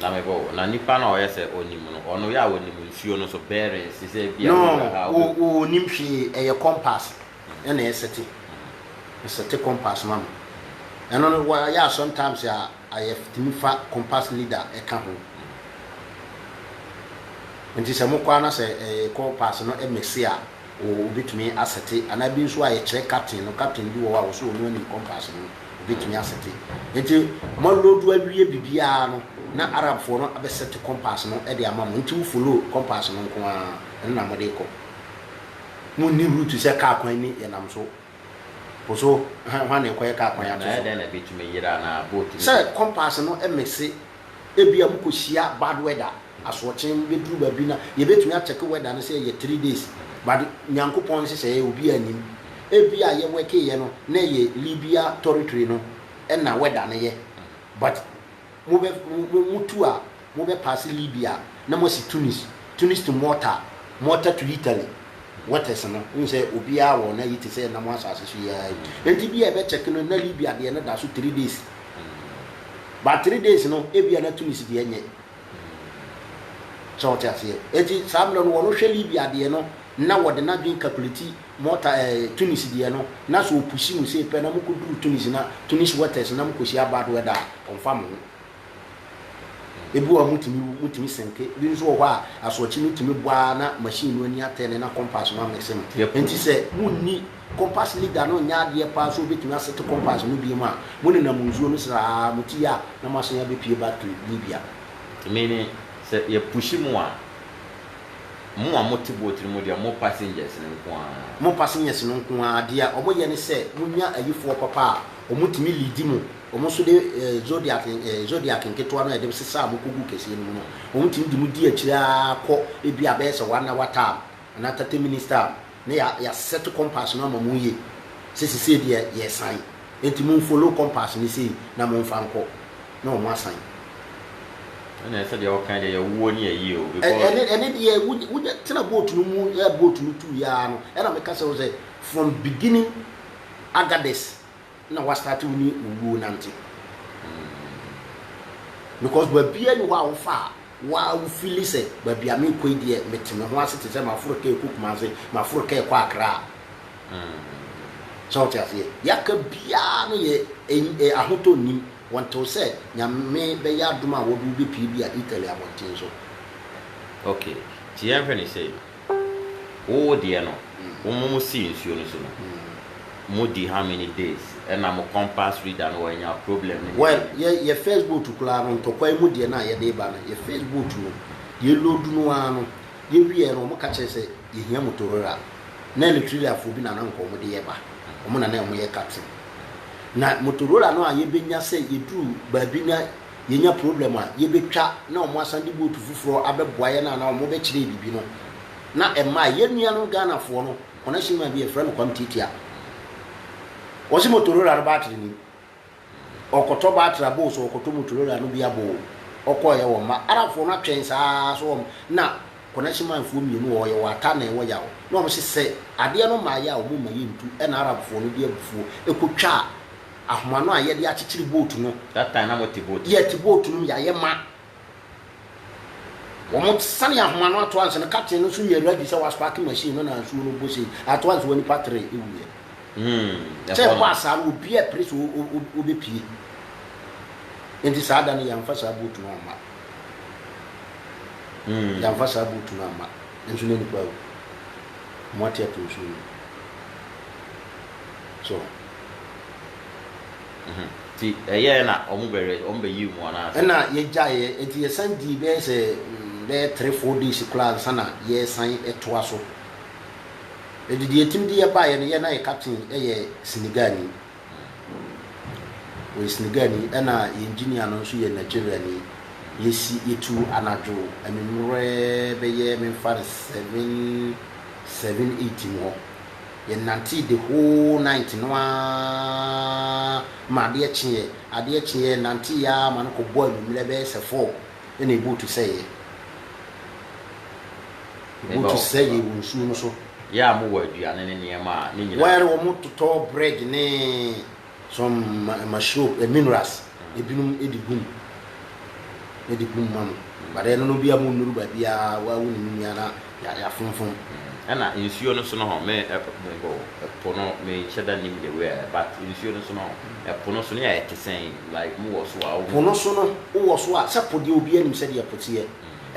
Na mebɔ wo. Na nipa no a ɔyɛ sɛ ɔnim no, ɔno yɛ a ɔnim nsuo no so bearings te sɛ ebia wei wɔ ha. No, wo ɔnim hwee, ɛyɛ compass na ɛsete, ɛsete compass ma me. Ɛno no wa yɛ a sometimes a ayɛ tumi fa compass needle ɛka ho. Nti sɛ mokɔ a na sɛ ɛɛ compass no ɛmɛse a. Obetumi asɛte, anaa bi nso a yɛkyerɛ captain no, captain bi wɔ hɔ a ɔsɛ ɔnu anim compass no, obetumi asɛte. Enti moaloadu awie biribiara no, na Arabfoɔ no abɛsɛte compass no de ama mo, enti wo follow compass no nko ara, ɛno na mode rekɔ. Monni route sɛ kaa kwan ni, yɛnam so, po so, hwan na ɛkɔyɛ kaa kwan ato so? Sɛ compass no mese Ebia mokɔhyia bad weather, asoɔkye bɛduru baabi na yɛbɛtumi akyɛke weather no sɛ ɛyɛ three days but Nyankopɔn nhyehyɛeɛ obiara nnim. Ebia yɛ workeeɛ no na ɛyɛ Libya toritory no na weather no yɛ but mobɛ motu a mobɛ paase Libya na moasi Tunis, Tunis to Malta, Malta to Italy waters no wohu sɛ obiara wɔ n'ayi te sɛ ɛnam asaase so yi ara yi. Nti bi a ɛbɛkyɛke no na Libya deɛ no da so three days. but three days no ebia na Tunis deɛ nyɛ sɛ ɔte aseɛ eti saa mmerɛ no wɔn hwɛ Libya deɛ no na wɔde n'adwene calculate mɔta ɛɛ eh, Tunis deɛ no na so opusi mu sei pɛ na mo kɔ duru Tunis na Tunis waters na mo kɔ hyia bad weather a ɔnfa mo ho ebi wɔ a motumi wu motumi senke bi nso wɔ hɔ a asoɔkye no tumi bɔ ara na machine no ani atɛ ne na compass no amese no nti sɛ monni Compass leader no nyɛ adeɛ paa sɛ ɔbɛtumi asete compass no biom a, mo nenam nsuo no sraa mo ti a na moasan abɛpue back to Libya. Meaning sɛ yɛ push mo a, mo a mote boat no mu deɛ mo passengers no nko ara. Mo passengers no nko ara, deɛ wɔn yɛ ne sɛ monya ayifoɔ papa a wɔn tumi leadi mo, wɔn nso de Zodiac Zodiac nketewa no a yɛde sesa a mo kɔgu kɛseɛ no mu no, wɔn tumi de mo di akyire ara kɔ ebi a bɛyɛ sɛ one hour time anaa thirty minutes time. na ya ya set compass no ama mo yie sɛ sisei deɛ yɛ san enti mo nfollow compass no sei na mo nfa nkɔ na ɔmo asan. Ɛnneɛ sɛdeɛ wokae deɛ yɛwoɔ ne ayie o because. Ɛne ɛne deɛ wo wo nya tena boat no mu yɛ boat no tuuiɛ ara no ɛna meka kyerɛ wo sɛ from beginning Agadez. na wa start wo ne owuo nante mm because baabiaa ni hɔ a wo fa a wa wo feeli sɛ baabi a me kɔ yi deɛ me te me ho ase te sɛ ma foro kaa kɔ Kumase ma foro kaa kɔ Accra mm sɛ wo te aseɛ ya ka biaa no yɛ e ahotɔ nnim wɔ ntew sɛ Nyame bɛ yɛ adom a wɔ de wo bɛ pie bi a Italy abɔnten so. Okay, nti yɛn hwɛ no sei. Wo deɛ no wo mo mo si nsuo no so no mo di how many days ɛna mo compass reader no wanya problem ne ne Well deɛ. yɛ yɛ first boat koraa no ntɔkwa mu deɛ no a yɛde reba no yɛ first boat no yɛ load no ara no yɛ wieɛ no wɔn ka kyerɛ sɛ yɛhia motorora na Eritreafoɔ bi na na nka wɔn de yɛba wɔn na na wɔyɛ captain na motorora no a yɛbɛnya sɛ yɛduru baabi na Yenya problem a, yebetwa na wɔasan de boat foforɔ abɛboa yɛn anaa wɔbɛkyerɛ yɛn biribi no, na ɛmmae. Yɛn nua no Ghanafoɔ no, wɔn ahyɛnmua bi, yɛfrɛ no Kwam Tiatia. Wɔse Motorola no battery nnim. Ɔkɔtɔ battery aboo so, ɔkɔtɔ Motorola no bi aboo. Ɔkɔeɛ wɔ mma. Arabfoɔ no atwɛn saa ara so wɔn, na wɔn ahyɛnmuafoɔ mmienu a wɔyɛ wɔ ata na ɛwɔ Yaw na wɔse sɛ adeɛ no mmaeɛ a wɔmma yɛntu, ɛna Arabfoɔ no de abufuo kɔtwaa ahoma no a yɛde akyekyere boat no. That time na wɔte boat. Yɛte boat no mu yɛayɛ ma. Wɔn sani ahoma no ato ansa no captain no nso nyɛ ready sɛ waspark machine no na nsuo no bɔ sei ato ansa wɔn nipa tere ewuiɛ. Hmm. Sɛ ɛkɔ asaa no obi a pere so obepie. Nti saa da no yɛnfa saa boat no ama. Hmm. Yɛnfa saa boat no ama. Nso na nipa awu. Wɔn ate ato nsuo no. So. Nti ɛyɛɛ na ɔmo bɛwerɛ, ɔmo bɛ yiw mu anaa sɛ. Ɛna yɛ gyaeɛ, nti yɛ san dii bɛyɛ sɛ bɛyɛ three four days koraa ansa na yɛ san toa so. Nti deɛ ɛtumi de yɛ baeɛ no, yɛ na yɛ captain yɛ Senegalni, ɔyɛ Senegalni, ɛna yɛ engineer no nso yɛ Nigeriani. Yɛ si, yɛ tu anadwo anwummerɛ bɛyɛ, me nfa no seven, seven eight mu hɔ. Yɛnantee the whole night no ara ma adeɛ kyeeɛ. Adeɛ kyeeɛ, yɛnanteeɛ ara ma no kɔbɔɔ anwummerɛ bɛyɛ sɛ four na ɛbuutu sɛeɛ. Ɛbuutu sɛeɛ wɔ nsuo no so. Yɛ a mowɔ aduane ne nneɛma a, ne nyinaa. Well, wɔtotɔɔ bread ne Some mashrope eh minerals ebinom de gum na de gum ma mo but ɛno no bia mo nnuru baabi a wa wo ne mu nua na yɛafonfom. Ɛna nsuo no nso no hɔ me mebɔ ɛpo no me nhyɛ da nim the way a but nsuo no nso no hɔ ɛpo no so no yɛ ayɛ te sɛn like mo wɔ so a. Po no so no wo wɔ so a sɛ po deɛ obiara nim sɛdeɛ po teɛ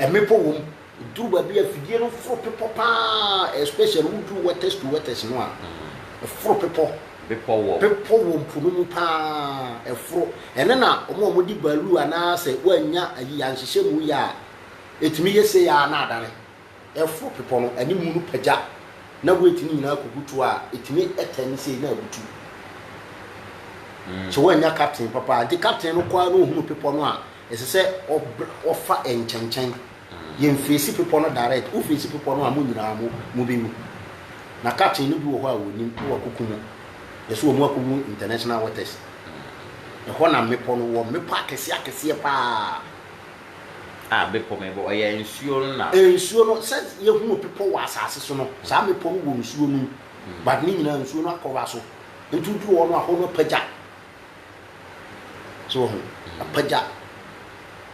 mmepɔ wɔ mu Eduru baabi a fidie no foro bepɔ paa especially wo duru wetest to wetest no a ɛforo bepɔ. Bepɔ wɔ. Bepɔ wɔ mpo no mu paa ɛforo. Ɛno na wɔn a wɔde baaluu anaa sɛ woannya ayi anhyehyɛ mu yɛ a ɛtumi yɛ sei ara na adane. Ɛforo bepɔ no animu no pagya na weight no nyinaa kɔ butu a ɛtumi turn sei na abutu. Sɛ woannya captain papa a nti captain no kɔ ara na ɔhunu bepɔ no a Ɛsɛ sɛ ɔbrɛ ɔfa nkyɛnkyɛn. Yɛn feesi bepɔ no direct. Wo feesi bepɔ no a mo nyinaa mo mo bɛ wu. Na captain no bi wɔ hɔ a wɔnim na wako ku mo. Yɛso wɔn ako wu international waters. Ɛhɔ na mmepɔ no wɔ. Mmepɔ akɛseɛ akɛseɛ paa. A bepɔ mebɔ ɔyɛ nsuo no na. Nsuo no sɛ yɛ hunu bepɔ wɔ asaase so no saa mmepɔ no wɔ nsuo nom but ne nyinaa nsuo no akɔra so nti wo duru hɔ no a hɔ no apagya So woahu? Apagya.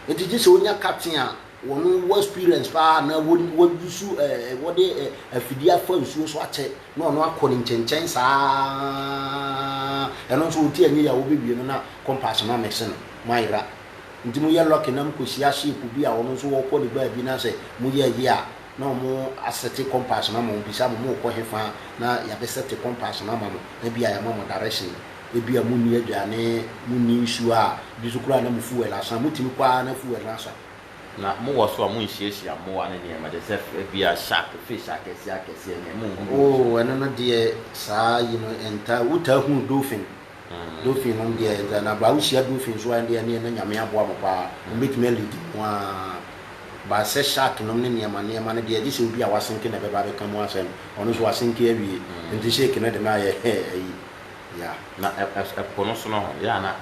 Nti gye sɛ wonya captain a wɔn wɔ experience paa anaa wɔn wɔ yusu ɛɛ eh, wɔde eh, afidie afa nsuo so akyɛ na ɔno akɔ ne nkyɛnkyɛn saa ɛno nso wɔn ti anyi yɛ a wɔbɛwie no na compass no amɛse no mo ayera nti mo yɛ lucky na mo kɔhyia shape bi a ɔno nso wɔkɔ ne baabi na sɛ mo yɛ yie a na wɔn asɛte compass no ama wɔn bisa mo mo kɔ he fa na yɛabɛsɛte compass no ama mo na bi a yɛama mo direction Ebia munni aduane, munni nsu a bi nso koraa na mo fuel asa. Mutumi kɔ ara na fuel no asa. Na mowɔ so a munhyiahyia mmoa ne nneɛma te sɛ ebia shark, fish akɛseɛ akɛseɛ ne munhu bi nso. Oh, ɛno no deɛ saa yi no ɛntaa, wotaa hunu dolphin, dolphin nom deɛ ɛntaa, na baa wohyia dolphin nso a ɛndeɛ ɛneɛ na Nyame aboa mo paa, wɔn bɛtumi a lead mo a, but sɛ shark nom ne nneɛma nneɛma no deɛ gye sɛ obi a wasenke na ɛbɛba abɛka mu asɛm, ɔno nso wasenke awie, nti shake no de no ayɛ ayi. Ya, na ɛ-ɛ-ɛ po no so no ho, ya na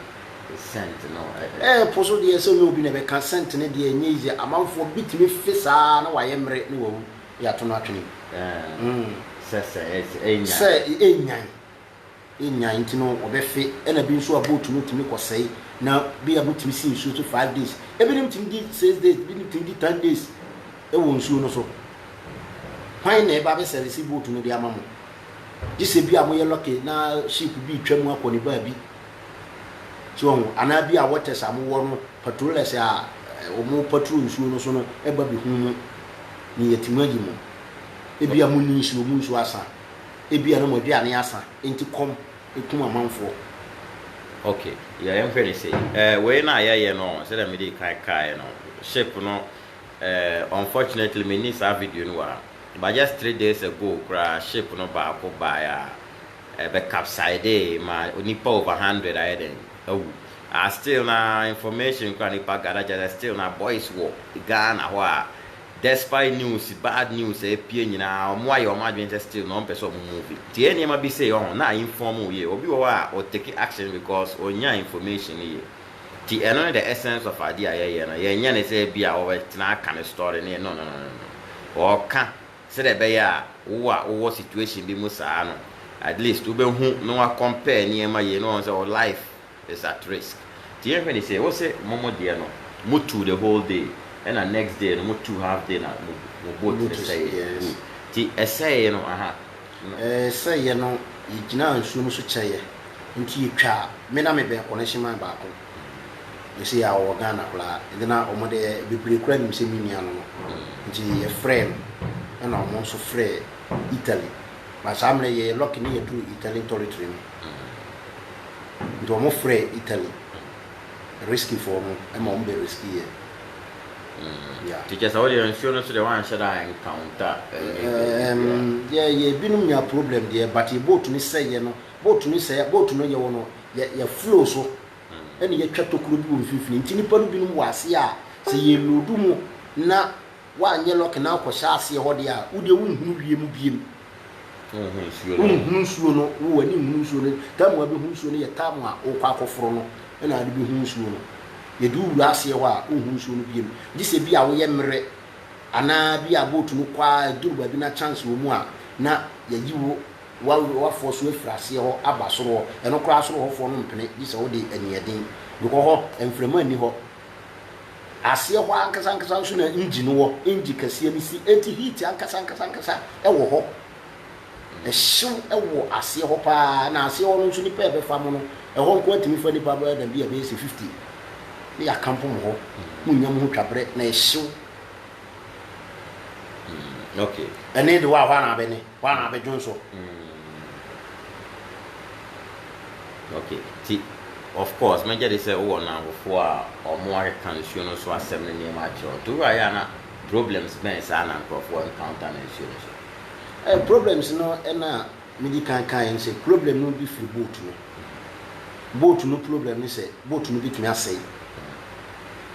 scent no ɛ-ɛ. Ɛ-ɛ po so deɛ sɛ ɔnyɛ obi na bɛka scent no deɛ ɛnyɛ easy, amanfoɔ bitumi fe saa na wayɛ mmere na wawu, ya to no atwene gu. Ɛɛ, sɛ sɛ ɛ, sɛ ɛnyan. Sɛ ɛnyan, ɛnyan nti no wɔbɛfe, ɛna bi nso a boat no tumi kɔ sɛe na bi a motumi si nsuo so five days, ɛbinom tumi di six days, ɛbinom tumi di ten days ɛwɔ nsuo no so, hwan na ɛba abɛ service boat no de ama mo? Gyesɛ bi a moyɛ lucky na ship bi retwa mu akɔ ne baabi so wahu, anaa bi a waters a mowɔ no patrollers a wɔn patrol nsuo no so no ba bɛhu mo ne yɛte mu agye mo. Ebi a monni nsuo, mo nsuo asa, ebi a na mo aduane asa enti kɔm ɛkum amanfoɔ. Ok, yɛ yɛn hwɛ ne sei. Eh, wei na yɛyɛ no, sɛdeɛ mede kan kaeɛ no, ship no eh, unfortunately menni saa video no wɔ ha. But just three days ago koraa ship no baako bae a ɛbɛ capsidee ma nnipa over hundred ayɛ dɛn awu a still na information koraa nnipa gather kyerɛ sɛ still na boys wɔ Ghana hɔ a despite news bad news a ɛpue nyinaa wɔn ayɛ wɔn adwene sɛ still na wɔn pɛ sɛ wɔn move nti ɛyɛ nneɛma bi sei ɔho na inform wo yie obi wɔ hɔ a ɔtake action because ɔnnya information no yie. Nti ɛno ne the essence of adeɛ a yɛyɛ no, yɛnyɛ no sɛ bi a wɔbɛtena aka ne story ne no no no no no, wɔka sɛdeɛ ɛbɛyɛ a wo a wowɔ situation bi mu saa no at least wobɛhu na wa compare nneɛma yie na wahu sɛ wo life is at risk. Nti yɛnhwɛ no sei, wose mo mo deɛ no mo tu the whole day ɛna next day no mo tu half day na mo mo boat no sɛeɛ, good, nti ɛsɛee no aha. no. Sɛ yɛ no, yegyinaa nsuo no so kyɛ yɛ nti yɛtwaa me na me bɛn connection man baako ne sɛ yɛ a ɔwɔ Ghana koraa nti na ɔmo deɛ bebree koraa nim sɛ me nua no no nti yɛ frɛɛ no ɛna ɔmo nso frɛɛ Italy but saa mmerɛ yɛ yɛ lucky ne yɛduru Italian toritry no nti ɔmo frɛɛ Italy. Riskyfoɔ no ma wɔn bɛ risky yɛ. Nti kyerɛ sɛ wo deɛ nsuo no so deɛ woanhyɛ da encounter any baabi biara? Yɛ yɛ binom nya problem deɛ but yɛ boat no sɛeɛ no boat no sɛeɛ boat no yɛwɔ no yɛ yɛ flow so ɛna yɛatwa tokuro bi wɔ mfimfini nti nnipa no binom wɔ aseɛ a sɛ yɛ load mu na Woanyɛ lɔke na wokɔhyɛ aseɛ hɔ deɛ a, wo deɛ wonhunu wie mu biem. Wonhunu nsuo no, wo w'ani nhunu nsuo no. Tam a wobɛhu nsuo no yɛ tam a worekɔ akɔforo no na wode bɛhu nsuo no. Yɛde wo wura aseɛ hɔ a, wonhunu nsuo no biem. Gye sɛ bi a woyɛ mmerɛ anaa bi a boat no kɔ ara ɛduru baabi na chance wɔ mu a, na yɛayi wo, w'afoɔ so afiri aseɛ hɔ aba soro hɔ. Ɛno koraa soro hɔfoɔ no mpene gye sɛ wode aniɛden, because hɔ mframa nni hɔ, Aseɛ hɔ ankasa ankasa nso na engyi no wɔ, engyi kɛseɛ no si, enti heat ankasa ankasa ankasa wɔ hɔ. Ɛhyew wɔ aseɛ hɔ pa ara, na aseɛ hɔ no nso nnipa a ɛbɛfa mo no, ɛhɔ nko ara tumi fa nnipa bɛyɛ dɛn, bi a ɛbɛyɛ sɛ fifty, na yɛakampo mo hɔ, monnya mo ho twaberɛ, na ɛhyew. Mm, okay. Ɛne de wɔ ahɔ anaa bɛne? Hɔ ara bɛdwo nso. Mm. Ok, nti of course mɛgye de sɛ wowɔ nnamfofoɔ a wɔn akeka nsuo no so asɛm ne nneɛma akyerɛ wo. Nti woayɛ a na problems bɛn saa na nkurɔfoɔ encounter no nsuo no so? Eh, problems no na medi kan kaeɛ no sɛ problem no bi firi boat no. Boat no problem ne sɛ boat no bɛtumi asɛe,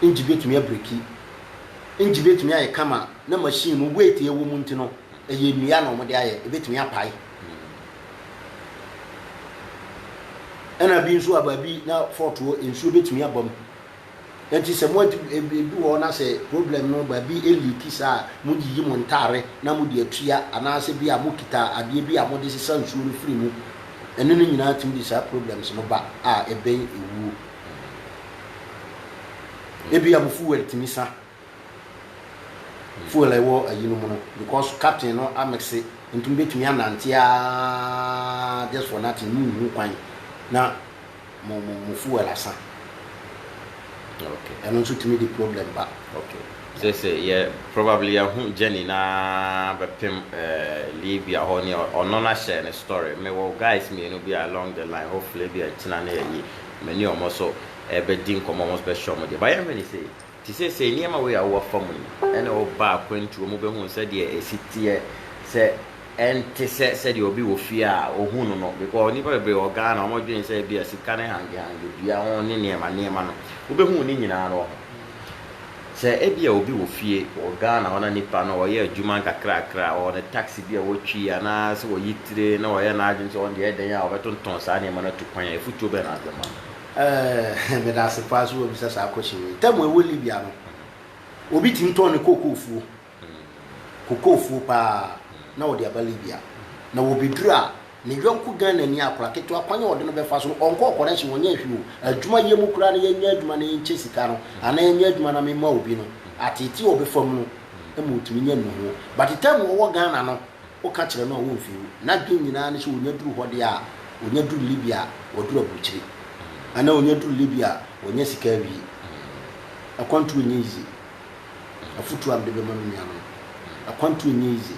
engine bɛtumi abreaki, engine bɛtumi ayɛ kama na machine no weight a ɛwɔ mu nti no, Ɛyɛ nnua na wɔde ayɛ, ɛbɛtumi apae. Ɛna bi nso a baabi na fɔɔt wɔ, nsuo bɛtumi aba mu. Nti sɛ mo ɛdu hɔ na sɛ problem no baabi liiki saa a, moyiyi mo ntaare na mode atua anaasɛ bi a mokita adeɛ bi a mode sesa nsuo no firi mu. Ɛno no nyinaa tumi de saa problems no ba a ɛbɛn ɛwuo. Ebia mo fuel tumi sa. Fuel a ɛwɔ ayi no mu no because captain no amexe nti mo bɛtumi anante ara just for nothing mo nhu kwan na mo mo mo fuel asa. Okay. Ɛno nso tumi de problem ba. Okay. Sɛ sɛ yɛ probably yɛahu journey no ara bɛpem eh, Libya hɔ ne ɔno no ahyɛ ne story. Mewɔ guys mmienu bi a along the line hopefully bi a nkyena ne ayi me ne wɔn nso ɛbɛdi nkɔmmɔ wɔn nso bɛhyɛ wɔn deɛ. But yɛnhwɛ ne sei. Te sɛ sɛɛ, nneɛma wei a wowɔ afa mu yi na woba akwantuo mu bɛhunu sɛdeɛ ɛsi teɛ sɛ ɛnte sɛ sɛdeɛ obi wɔ fie a ɔhu no no because nnipa bebree wɔ Ghana wɔdwene sɛ ebia sika ne hangehange dua ho ne nneɛma nneɛma no wobɛhunu ne nyinaa no wɔ ho. Sɛ ebia obi wɔ fie wɔ Ghana hɔ na nipa no ɔyɛ adwuma nkakrakra ɔwɔ ne taxi bi a ɔtwi anaa sɛ ɔyi tire na ɔyɛ n'adwene sɛ ɔno deɛ ɛdɛn a ɔbɛtontɔn saa nneɛma no atu kwan a afutuo bɛn na wode bɛma no? Eh, meda ase paa sɛ woabisa saa question wei. Tɛm a ɛwɔ Libya no, obi tumi tɔn ne kookoofuo, kookoofuo paa, na ɔde aba Libya. Na ɔbɛduru a, ne yɔnko Ghanani akwadaa ketewa, kwan a ɔde no bɛfa so no, ɔnkɔ ɔkɔrɛhye, ɔnyɛ hwee o. Adwuma yɛ mu koraa na yɛnyɛ adwuma na yɛnkyɛ sika no, anaa yɛnyɛ adwuma na mema obi no, ateetee a ɔbɛfa mu no ma ɔtumi nya nnuho. But tɛm a ɔwɔ Ghana no, Woka kyerɛ no a womfi wo. N'adwene nyinaa ne sɛ onya duru hɔ deɛ a, onya duru Libya a, waduru aburukyire. Anaa onya duru Libya a, wanya sika awie. Akwantuo nyɛ easy. Afotuo a mede bɛma me nuanom. Akwantuo nyɛ easy.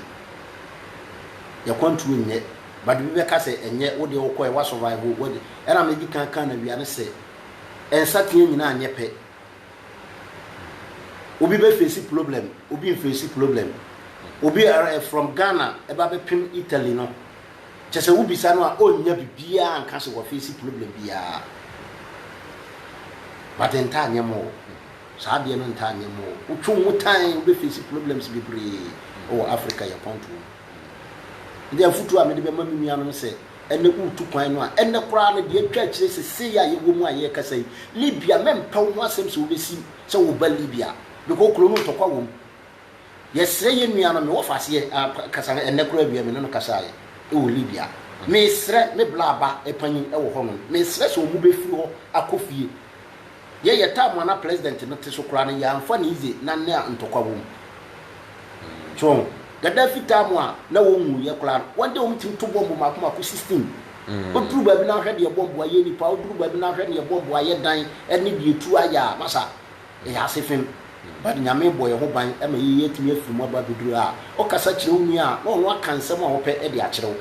Y'akwantuo nyɛ. But bi bɛka sɛ ɛnyɛ, wodeɛ wokɔɛ, woasurvive, woadi. Ɛna mede di kan kaa no awia no sɛ, nsateaa nyinaa nyɛ pɛ. Obi bɛ face problem, obi nface problem. Obi ara eh, from Ghana ɛba eh, bɛpem Italy no. Kyɛ sɛ wobisa no a ɔnnya bibiaa nka sɛ waface problem biaa. But ntaa nyɛ mo o. Saa adeɛ no ntaa nyɛ mo o. Wotwe wo ho tan wobɛface problems bebree wɔ Africa yɛ pɔntoɔ mu. Nti afotuo a mede bɛma me nuanom sɛ Ɛnnɛ woretu kwan no a, ɛnnɛ koraa no, deɛ atwa akyire seesei a yɛwɔ mu a yɛrekasa yi, Libya, mɛmpɛ wo ho asɛm sɛ wobɛsi sɛ woreba Libya, because kuro no ntɔkwa wɔ mu. Yɛsrɛ yɛn nua no, mewɔ faseɛ a, kasa, ɛnnɛ koraa awia me ne no kasaeɛ wɔ Libya. Mesrɛ, me bla ba panyin wɔ hɔnom, mesrɛ sɛ wɔbɛfiri hɔ akɔ fie. Yɛ yɛ time a na president no te so koraa no yɛ anfa no easy na nea ntɔkwa wɔ mu. So ho? Gaddafi time a na wɔn wu yɛ koraa no wɔn deɛ wɔn tumi to bɔmbo mako mako sixteen. Oduru baabi na ahwɛ deɛ bɔmbo ayɛ nipa, oduru baabi na ahwɛ neɛ bɔmbo ayɛ dan ɛne deɛ etuo ayɛ a masa yɛ ase fem. But Nyame bɔ yɛ ho ban ma yɛ yɛatumi afiri mu aba abeduru ha a. Ɔkasa kyerɛ wo nua a na ɔno aka nsɛm a ɔpɛ de akyerɛ wo.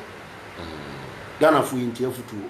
Ghanafoɔ yɛ ntie afutuo.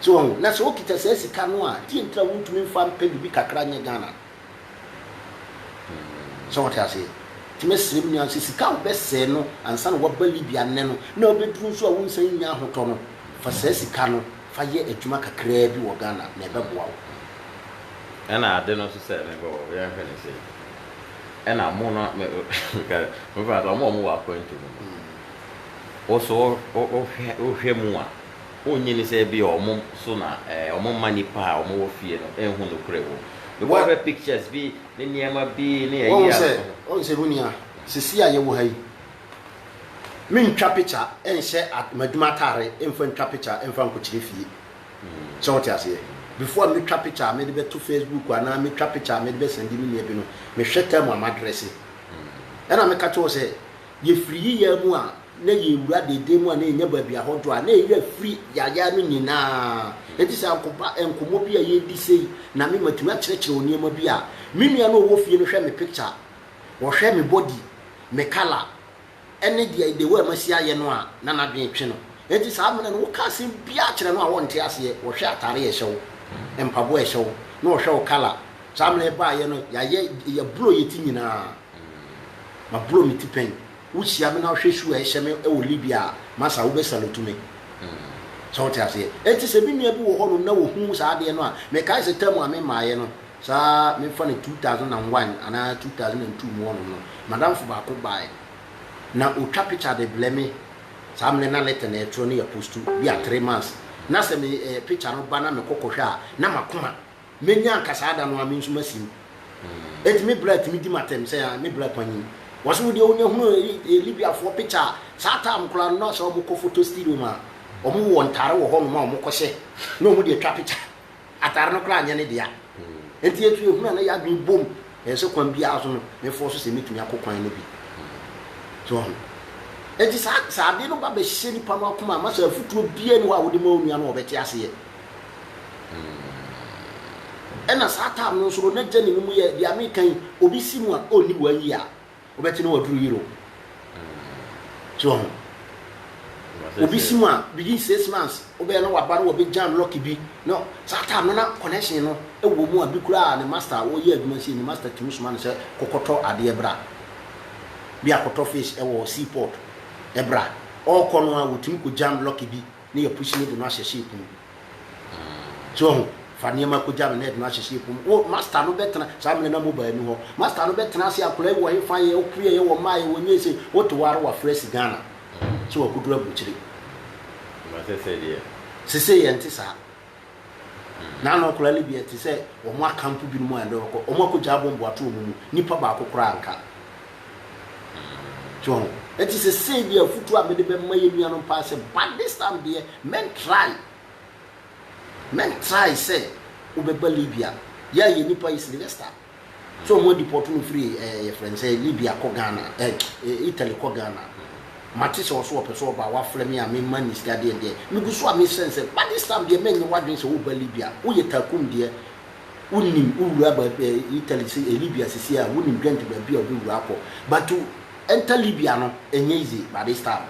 So wahu? Na sɛ wokita saa sika no a, deɛn nti na wontumi mfa mpɛ biribi kakra nyɛ Ghana no? So wote aseɛ? Nti mɛsrɛ me nua sɛ sika a wobɛsɛɛ no ansa na woaba Libya nnɛ no, na wobɛduru nso a wonsan nnya ahotɔ no, fa saa sika no fa yɛ adwuma kakraa bi wɔ Ghana na ɛbɛboa wo. Ɛna ade no nso sɛ, mebɔ wo, yɛnhwɛ no sei, ɛna mo no, meka no, mobɛfa no sɛ wɔn a wɔwɔ akwantu mu no, wo so wohwɛ mu a, wonnye nni sɛ ebia wɔn so na wɔmma nnipa a wɔwɔ fie no nhu nokorɛ wom? Mebɔ wo hwɛ pictures bi ne nneɛma bi ne ayi a. Woahu sɛ honi a seesei a yɛwɔ ha yi, mentwa picture nhyɛ m'adwuma atare mfa ntwa picture mfa nkɔkyerɛ fie. Sɛ wote aseɛ? Before a mɛtwa picture a mede bɛto Facebook anaa mɛtwa picture a mede bɛsɛnde me nua bi no, mehwɛ time a madrɛse. Ɛna meka kyerɛ wo sɛ, Yefiri yeyaa mu a na yewura deedee mu a na yenya baabi ahɔdɔ a na yewura firi yayaa no nyinaa. Enti sɛ ankopa nkɔmmɔ bi a yedi sei na me matumi akyerɛkyerɛ wo nneɛma bi a, me nua no a ɔwɔ fie no hwɛ me picture, ɔhwɛ me body, me colour, ɛne deɛ the way a masi ayɛ no a na n'adwene twe no. Enti saa mmerɛ no woka asɛm biara kyerɛ no a ɔnte aseɛ, ɔhwɛ atare a ɛhyɛ wo, mpaboa a ɛhyɛ wo, na ɔhwɛ wo colour. Saa mmerɛ yɛbaeɛ no yɛayɛ, yɛaburo yɛti nyinaa. Mm, maborɔ me ti pɛn. Wo hyia me na wo hwɛ su a ɛhyɛ me wɔ Libya a, masa wo bɛ salute me. Mm, sɛ wo te aseɛ. Ɛnti sɛ me nua bi wɔ hɔ nom na ɔhu saa adeɛ no a, me kae sɛ term a me maaeɛ no, saa me fa no 2001 anaa 2002 mu hɔ nom no, madamfo baako baaɛ na ɔtwa picture de blɛ me, saa mmerɛ na letter na ɛtwerɛ no yɛ postu, bia three months, na sɛ me eh, picture no ba na me kɔ kɔ hwɛ a, na makoma. Menya anka saa da no a me nso masim. Enti me bra tumi di m'atɛm sɛ ah me bra panyin. Wɔse wo deɛ wonya hunu Libiafoɔ picture a saa time koraa no na sɛ wɔn kɔ photo studio mu a wɔn wɔ ntaare wɔ hɔ nom a wɔn kɔ hyɛ na wɔn de atwa picture. Ataare no koraa nyɛ ne dea. Enti yɛtu yɛhunu a na yɛadwene bom ɛyɛ sɛ kwan biara so no me fɔ so sɛ mɛtumi akɔ kwan no bi. So wɔn. Enti saa sɛ adeɛ no ba bɛhyɛ nipa no akoma a ma sɛ afutuo biara ni hɔ a wode ma onua no a ɔbɛte aseɛ. Ɛna saa time no nso no na journey no mu yɛ deɛ meka yi obi si mu a ɔnni one year a wobɛte no waduru Europe so wɔ ho obi si mu a within six months wobɛyɛ na waba na wɔbɛ jam lucky bi na saa time no na connection no ɛwɔ mu a bi koraa ne master a ɔyɛ adwuma sie ne master tumi soma no sɛ kɔkɔtɔ adeɛ bra bi akɔtɔ fish ɛwɔ sea port ɛbra ɔkɔ no a wɔtumi kɔ jam lucky bi Ne yɛ pusi ne de no ahyɛ ship mu so wahu fa nneɛma kogya no na yɛde no ahyɛ ship mu wo master no bɛtena saa mmerɛ na mobile nni hɔ master no bɛtena ase akwadaa yi wɔ he fa yɛ ɔpueɛ yɛ wɔ mmaa yɛ wɔ nyɛ sei wote wɔ ara wafrɛ si Ghana so wakɔduru aburukyire. Mate sɛ deɛ. Sesei ɛnte saa. Na na nkwadaa no bi ɛte sɛ wɔn akampo binom a ɛdɛ wɔkɔ wɔn akɔgya abɔ mboato wɔn mu nipa baako koraa nka so ho ɛte sɛ sɛ bi afutuo a mede bɛma yɛ nuanom paa sɛ but this time deɛ men try men try sɛ wobɛba Libya yɛ a yɛ nipa yi Sylvester So ɔmo adipɔto no firi eh yɛfrɛ no sɛ Libya kɔ Ghana eh Italy kɔ Ghana. Mate sɛ ɔse ɔpɛ sɛ ɔba a wafrɛ me a me mma no sika deɛ deɛ megu so a me srɛ no sɛ ba this time deɛ ma nyɛ w'adwene sɛ woba Libya woyɛ Takum deɛ wo nim wo wura ba eh Italy se eh Libya sesie a wo nim dwɛnt baabi a wobɛwura akɔ but to enter Libya no ɛnyɛ easy ba this time.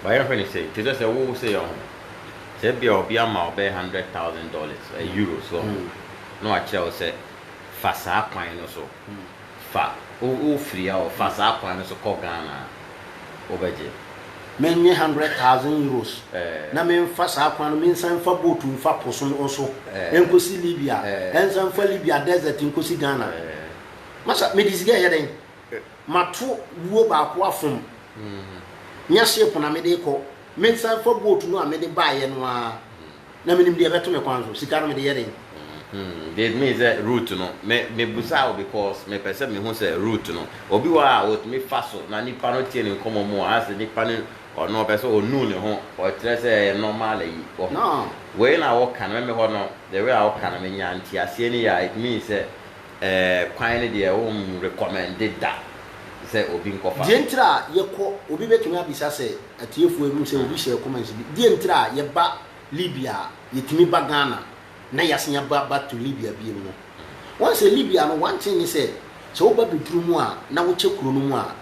But yɛnhwɛ no sei, te sɛ sɛ wo sei ɔho, sɛ ebia obi ama wo bɛyɛ hundred thousand dollars, eh, euros ɔho, na wakyerɛ wo sɛ fa saa kwan no so, fa, wo, wofiri ha o, fa saa kwan no so kɔ Ghana a, wobɛgye? Mennye hundred thousand euros Eh, na memfa saa kwan no, mensan mfa boat mfa po so no so eh, nkɔsi Libya, eh, ɛnsan mfa Libya desert nkɔsi Ghana. eh. Masa, mede sika ɛyɛ dɛn? Mato wuo baako afom. Nyɛ ship na mede rekɔ. Mensan mfa boat no a mede baeɛ no ara. Na menim deɛ ɛbɛto me kwan so. Sika no mede yɛ dɛn? Mm-hmm. They mean sɛ route no. Me me busa wo because me pɛ sɛ me hu sɛ route no. Obi wɔ a otumi fa so na nipa no tie ne nkɔmɔ mu a asɛ nipa no ɔno ɔpɛ sɛ onu ne ho. Ɔkyerɛ sɛ ɛyɛ normal ayi. Wɔ ho. Wei na wo ka no. Me me hɔ no the way a wo ka no me nya nteaseɛ no yie a it means sɛ Ɛɛ kwan no deɛ wo nrekɔmɛnde da sɛ obi nkɔfa. Deɛ ntira a yɛ kɔ, obi bɛtumi abisa sɛ atiefoɔ ɛhu sɛ obi hyɛɛ comments bi, deɛ ntira a yɛ ba Libya a yɛ tumi ba Ghana na yɛ asan aba back to Libya biom no. Wɔn sɛ Libya no one thing ne sɛ, sɛ wo ba bɛduru mu a na wo kyɛ kuro no mu a,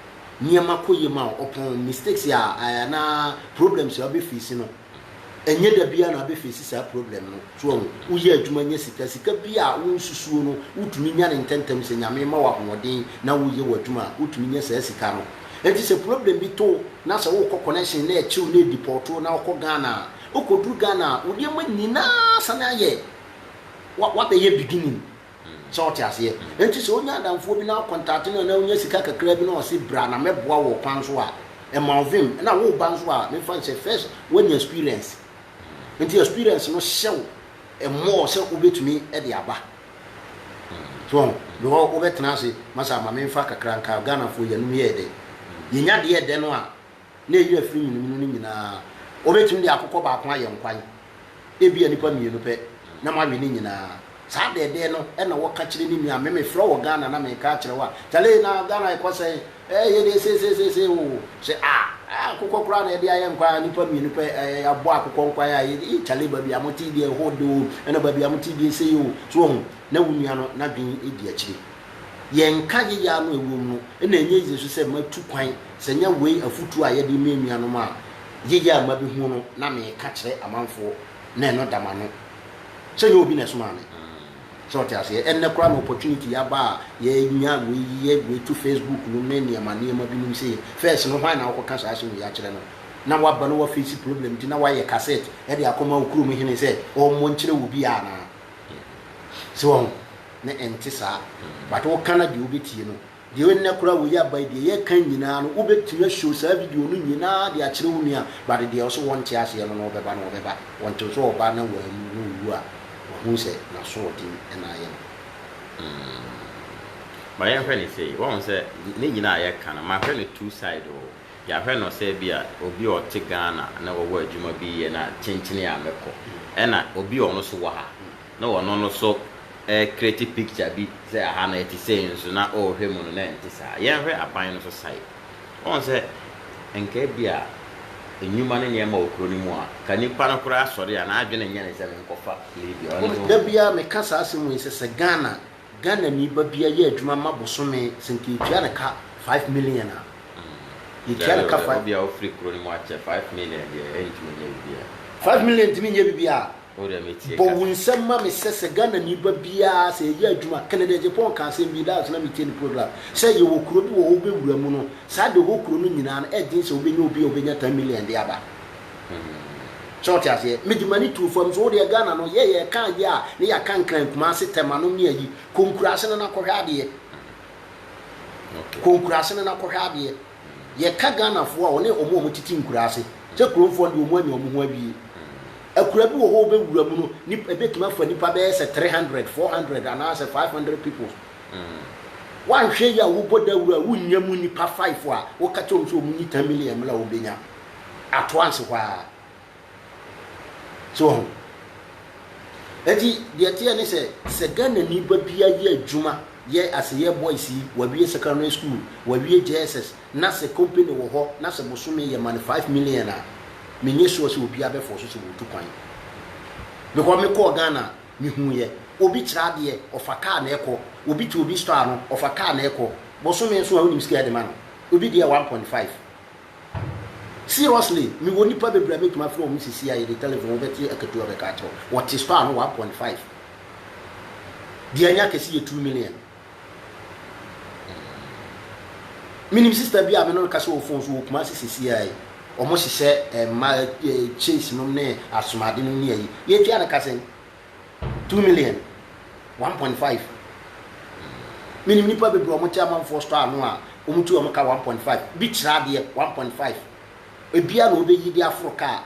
nneɛma kɔ yie ma wo, ɔpɔn, mistakes a anaa problems a wo bɛ face no, Ɛnyɛ da biara na abɛ face saa problem no, so wahu? Wo yɛ adwuma nya sika, sika bi a wo nsusuo no, wo tumi nya no ntɛntɛm sɛ Nyame ma wo ahoɔden na wo yɛ w'adwuma a, wo tumi nya saa sika no. Ɛnti sɛ problem bi to wo na sɛ wo kɔ connection na ɛkyew na ɛdeport wo na wo kɔ Ghana a, wo kɔ duru Ghana a, wo nneɛma nyinaa sane ayɛ, w'abɛyɛ beginning. So wote aseɛ? Enti sɛ wonya adamfoɔ bi na wocontate no anaa wonya sika kakra bi na ɔse bra na mɛboa wo ɔkwan so a, ɛma wo vem. Ɛna woreba nso a, memfa nhyɛ first woanya experience. Enti experience no hyɛ wo more sɛ wobɛtumi de aba. So wahu? Because wobɛtena ase, masa ma memfa kakra nka, Ghanafoɔ yɛnom yɛyɛ dɛ. Yɛnya deɛ ɛdɛ no a, na enya afiri nwenwunu no nyinaa. Wobetumi de akokɔ baako ayɛ nkwan, ebia nnipa mmienu pɛ, na moawe ne nyinaa. Saa dɛɛdɛɛ no na wɔka kyerɛ ne nua, me mefrɛ wɔ Ghana na mereka akyerɛ wo a, Charlie, na Ghana ɛkɔ sɛn? Ɛɛ, yɛ deɛ seiseisei oo. Sɛ a, ah, akokɔ koraa na yɛde ayɛ nkwan a, nnipa mmienu pɛ, ɛɛ, yɛabɔ akokɔ nkwan a, yɛ, ee, Charlie, baabi a mote deɛ ɛhɔ dɛ oo, ɛna baabi a mote deɛ sei oo. So woahu? Na wo nua no n'adwene di akyire. Yɛnka yeyɛ ara no a ɛwom no na ɛnyɛ yie nso sɛ matu kwan, sɛ ɛnyɛ wei afotuo a yɛde rema anuanom a yeyɛ a mabɛhunu no na meka kyerɛ amanfoɔ na ɛno da m'ano sɛ ɛnyɛ obi na ɛsomaa me. Sɛ wote aseɛ? Ɛnnɛ koraa na opportunity aba a yɛanya wei, yɛ wei to Facebook nom ne nneɛma nneɛma binom sei. First no hwan na wokɔka saa asɛm wei akyerɛ no? Na woaba na woafeesi problem nti na woayɛ cassette de akɔma wo kurom hene sɛ ɔmmɔ nkyerɛ obiara anaa? So wahu? Na ɛnte saa. But woka na deɛ wobɛtie no, deɛ ɛnnɛ koraa wei aba yi, deɛ yɛka nyinaa no, wobɛtumi a-show saa video no nyinaa de akyerɛ wo nua, but deɛ ɔse wɔnte aseɛ no na ɔbɛba no, ɔbɛba. Ɔnte nso ɔba na wanwu na ɔwu a, wahu sɛ n'asoɔden na ayɛ no. Hmm. Ma yɛnhwɛ no sei, wahu sɛ ne nyinaa a yɛka no, mahwɛ no two side o. Yɛahwɛ no sɛ bi a obi a ɔte Ghana na ɔwɔ adwuma bi yɛ na kyenkyenee a mɛkɔ. Ɛna obi a ɔno so wɔ ha na ɔno no so ɛrekreti picture bi sɛ aha no ɛte sei nso na ɔrehwɛ mu no na ɛnte saa. Yɛnhwɛ aban no so sae. Woahu sɛ nka bi a nnwuma ne nneɛma wɔ kuro no mu a, nka nipa no koraa sɔre a n'adwene nyɛ ne sɛ menkɔfa leave a, ɔno ne ɔnkɔ. Da biara meka saa asɛm wei sɛ, sɛ Ghana Ghanani ba bia yɛ adwuma ma bosome sɛ nka yɛtua no ka five million a yɛtua no ka five. Obi a ofiri kuro no mu akyɛ five million deɛ ɛntumi nyɛ bibia. Five million ntumi nyɛ bibia. O deɛ me tie ka. Bɔ wo nsɛm ma me sɛ sɛ Ghanani ba bia sɛ yɛyɛ adwuma Kennedy Agyapong ka asɛm bi last na me tie ne program sɛ yɛwɔ kuro bi wɔ hɔ wobɛwura mu no saa de hɔ kuro no nyinaa no ɛden sɛ wobɛnya obi a obɛnya ten million de aba So wote aseɛ? Mede m'ani too fam so. Wodeɛ Ghana no, yɛ yɛka adeɛ a, ne yɛaka Nkran, Kumasi, Tɛmanom ne ayi. Kɔ nkuraase no na kɔhwɛ adeɛ. Kɔ nkuraase no na kɔhwɛ adeɛ. Yɛka Ghanafoɔ a, wɔne wɔn a wɔtete nkuraase. Sɛ Kuromfoɔ no deɛ, wɔn anya wɔn ho awie. Akura bi wɔ hɔ a wobɛwura mu no, nip, ɛbɛtumi afa nnipa bɛyɛ sɛ three hundred, four hundred anaasɛ five hundred people. Woanhwɛ yie a, wobɔ dawuro a, wonnya mu nnipa five a, woka kyerɛ wɔn sɛ wɔnyi ten million mmra a, wɔbɛnya. atoa nse hɔ ara. So wahu? Enti deɛ ɛteɛ ne sɛ, sɛ Ghanani ba bi ayɛ adwuma, yɛ aseyɛ boys yi, wawie secondary school, wawie JSS, na sɛ company wɔ hɔ, na sɛ bosome yɛ ma no five million a, menyɛ sure sɛ obiara bɛfɔɔ so sɛ wɔtu kwan. Because mekɔɔ Ghana a, mehuiɛ. Obi kyerɛ adeɛ, ɔfa kaa na ɛkɔ. Obi te obi store ano, ɔfa kaa na ɛkɔ. Bosome nso a, wonim sika a ɛde ma no? Obi deɛ one point five. Seriously mewɔ nipa bebree a mɛtumi afrɛ wɔn sisi a yɛde telephone wo bɛte akatua bɛka akyerɛ wo wɔte store no 1.5 deɛ anya kɛse yɛ 2 million menim sister bi a me no no kasa wɔ phone so wɔ Kumasi sisi a yi wɔn hyehyɛ mma chase nom ne asomade nom ne ayi yɛtua no kasen Two million, one point five. Menim nnipa bebree a wɔte amanfoɔ store ano a wɔtu wɔn ka one point five. Bi kyerɛ adeɛ one point five. Ebia na ɔbɛyi de aforo kaa.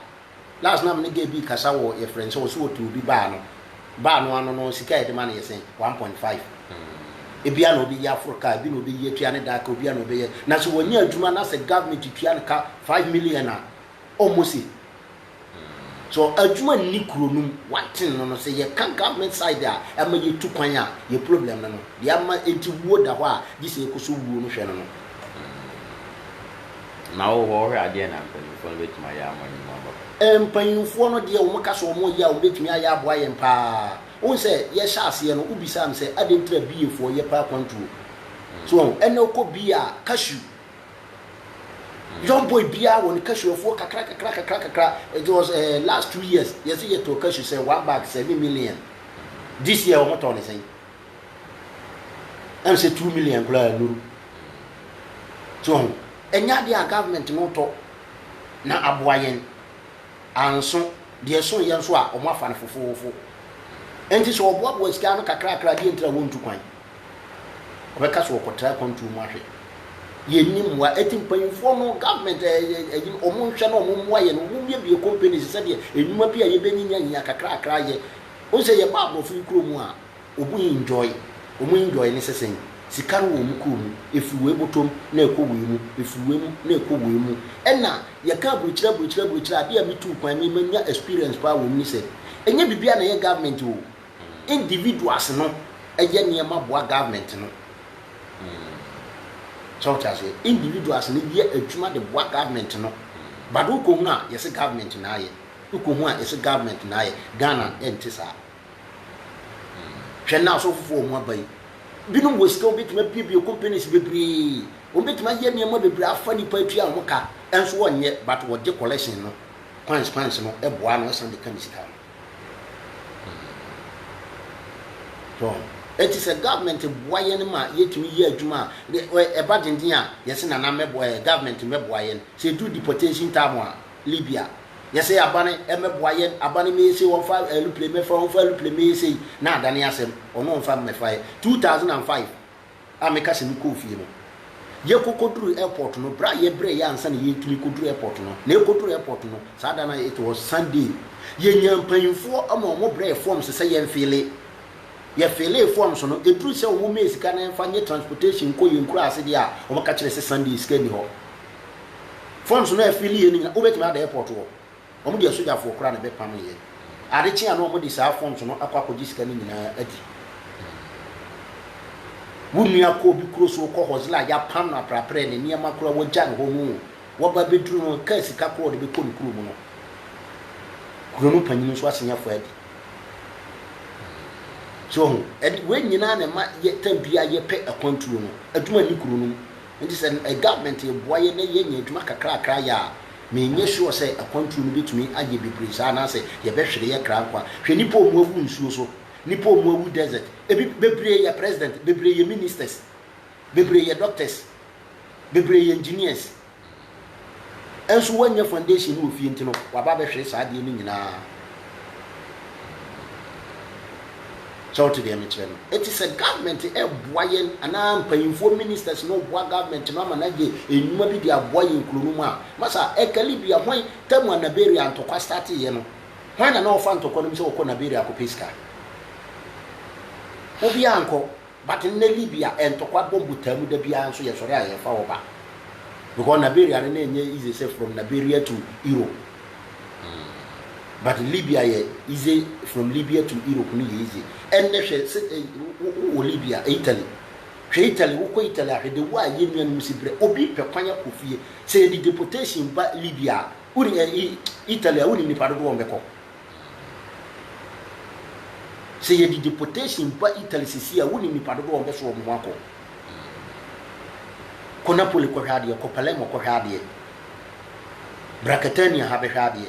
Last na mene gay bi kasa wɔ yɛfrɛ no sɛ ɔso ɔtu obi baa no. Baa no ano no sika a yɛde ma no yɛ sɛn? One point five. Ebia na ɔbɛyi aforo kaa, ebi na ɔbɛyi atua ne daa ka, obia na ɔbɛyɛ. Na sɛ wɔnyɛ adwuma na sɛ government tua no ka five million a, ɔmmɔ se. So adwuma nni kuro no mu? Woate no no sɛ yɛka government side a ɛma yɛtu kwan a yɛ problem no no deɛ ama nti wuo da hɔ a gye sɛ yɛkɔ so wuo no hwɛ no no. Mm. Ma wo hɔ hwɛ adeɛ na mpanyinfoɔ no bɛtumi ayɛ ama nnwuma aba hɔ. Mpanyinfoɔ no deɛ wɔn ka sɛ wɔn reyɛ a wɔn bɛtumi ayɛ aboa yɛn paa. Wohu sɛ yɛhyɛ aseɛ no wobisaa me sɛ adɛn nti na BA foɔ yɛ paa kwantuo. So wahu? Ɛnɛ wokɔ BA a cashew. Young boy biara wɔ ne cashew afuo kakra kakra kakra kakra. It was eh, last two years yɛse yɛtɔɔ cashew sɛ one bag seven million. This year wɔn tɔɔ ne sɛn? Ɛm sɛ two million koraa nuru. So ho, ɛnyɛ adeɛ a government no tɔ na aboa yɛn. Anso, deɛ ɛso yɛ nso a wɔn afa no fofoofo. Ɛnti sɛ wɔboaboa sika ano kakra kakra a deɛ nti na wɔntu kwan? Ɔbɛka sɛ ɔkɔtra akwantuo mu ahwɛ. Yɛnni mmoa. Eti mpanyinfoɔ no, government ɛ ɛ ɛyi no, wɔn nhwɛ na wɔn mmoa yɛn. Wɔn mmiebie companies sɛdeɛ nnwuma bi a yɛbɛnyinya nyinya kakrakra yɛ. Wohu sɛ yɛba aborɔfo yi kuro mu a, wɔn enjoy. Wɔn enjoy no sɛ sɛn? Sika no wɔ wɔn kuro mu. Ɛfiri wei botɔ mu na ɛkɔ wei mu, ɛfiri wei mu na ɛkɔ wei mu. Ɛna yɛka aburukyire aburukyire aburukyire a, adeɛ a metuu kwan me manya experience paa wɔ mu ne sɛ, ɛnyɛ biribiara na ɛyɛ government o. individuals no yɛ nneɛma boa government no. So wote aseɛ? Individuals no yɛ adwuma de boa government no. But wokɔhunu a yɛse government na ayɛ. Wokɔhu a yɛse government na ayɛ. Ghana ɛnte saa. Hwɛ nnɛ asɔfofoɔ a wɔn aba yi. Binom wɔ sika wɔbɛtumi abuebue companies bebree. Wɔbɛtumi ayɛ nneɛma bebree afa nipa atua wɔn ka. Ɛnso wɔnyɛ but wɔgye collection no. Coins coins no boa no ɛsan de ka ne sika no. Hwɛ! Enti sɛ government boa yɛn ma yɛtumi yɛ adwuma a, ɛba denden a, yɛse Nana mmɛboa yɛn, government mmɛboa yɛn. Sɛ ɛduru deportation time a, Libya, yɛse aban mmɛboa yɛn, aban mmɛyɛ sei, wɔmfa aeroplane mmɛfa, wɔmfa aeroplane mmɛyɛ sei, na adane asɛm, ɔno ɔmfa mmɛfa yɛn. 2005, a meka sɛ mekɔɔ fie no, yɛkɔ kɔduruu airport no, berɛ a yɛbrɛ yɛ ansa na yɛretumi kɔduru airport no, na yɛkɔduruu airport no, saa da no a it was Sunday, yɛnyaa mpanyimfoɔ ma wɔbrɛɛ forms sɛ yɛmfile. Yɛfilee forms no, ɛduruu sɛ wɔmmɛɛ sika na yɛmfa nyɛ transportation nkɔ yɛn nkuraase deɛ a, wɔka kyerɛɛ sɛ Sunday sika nni hɔ. Forms no a yɛfileeɛ no nyinaa, wobɛtumi ada airport hɔ. Wɔn deɛ sogyafoɔ koraa na ɛbɛpameeɛ. Ade kye a na wɔde saa forms no akɔ akɔgye sika no nyinaa adi. Wo nua kɔ obi kuro so, wokɔ hɔsla a yɛapam no apraprɛ, ne nneɛma koraa wɔagya no hɔ no o, waba abɛduru no, kaa sika koraa a ɔde bɛkɔ ne kuro mu no, kuro no panyini nso asen afa adi. So ho, ɛde wei nyinaa na ɛma yɛ tam biara yɛpɛ akwantuo no, adwuma nni kuro no mu. Enti sɛ government reboa yɛn na yɛanya adwuma kakrakra ayɛ a, menyɛ sure sɛ akwantuo no bɛtumi ayɛ bebree saa anaasɛ yɛbɛhwere yɛ kra nkwa. Hwɛ nnipa a wɔawu nsuo so, nnipa a wɔawu desert, ebi, bebree yɛ president, bebree yɛ ministers, bebree yɛ doctors, bebree yɛ engineers, nso woannya foundation no wɔ fie nti no, waba abɛhwere saa adeɛ no nyinaa. Sɛ wote deɛ mekyerɛ no? Eti sɛ government ɛɛboa yɛn anaa mpanyinfoɔ ministers no boa government no ama no agye nnwuma bi de aboa yɛn kuro no mu a, masa ɛka Libya hwan tam a Naberia ntɔkwa starteeɛ no? Hwan na na ɔfa ntɔkwa no mu sɛ ɔkɔ Naberia kɔpɛ sika? Obiara nkɔ. But nnɛ Libya ntɔkwa bɔ mbotaa mu da biara nso yɛsɔre a yɛfa hɔ ba because Naberia no na ɛnyɛ easy sɛ from Naberia to Europe but Libya yɛ easy from Libya to Europe no yɛ easy ɛnnɛ hwɛ sɛ wowɔ Libya Italy hwɛ Italy wokɔ Italy ahwɛ de wo a yɛ nuanom si brɛ obi pɛ kwan akɔ fie sɛ yɛde deportation ba Libya a woni Italy a wonim nipa dodoɔ wɔn bɛkɔ Sɛ yɛde deportation ba Italy sɛsi a, wonim nipa dodoɔ a wɔbɛso wɔn ho akɔ. Kɔ Napoli kɔhwɛ adeɛ, kɔ Palermo kɔhwɛ adeɛ, bra Catania ha bɛhwɛ adeɛ.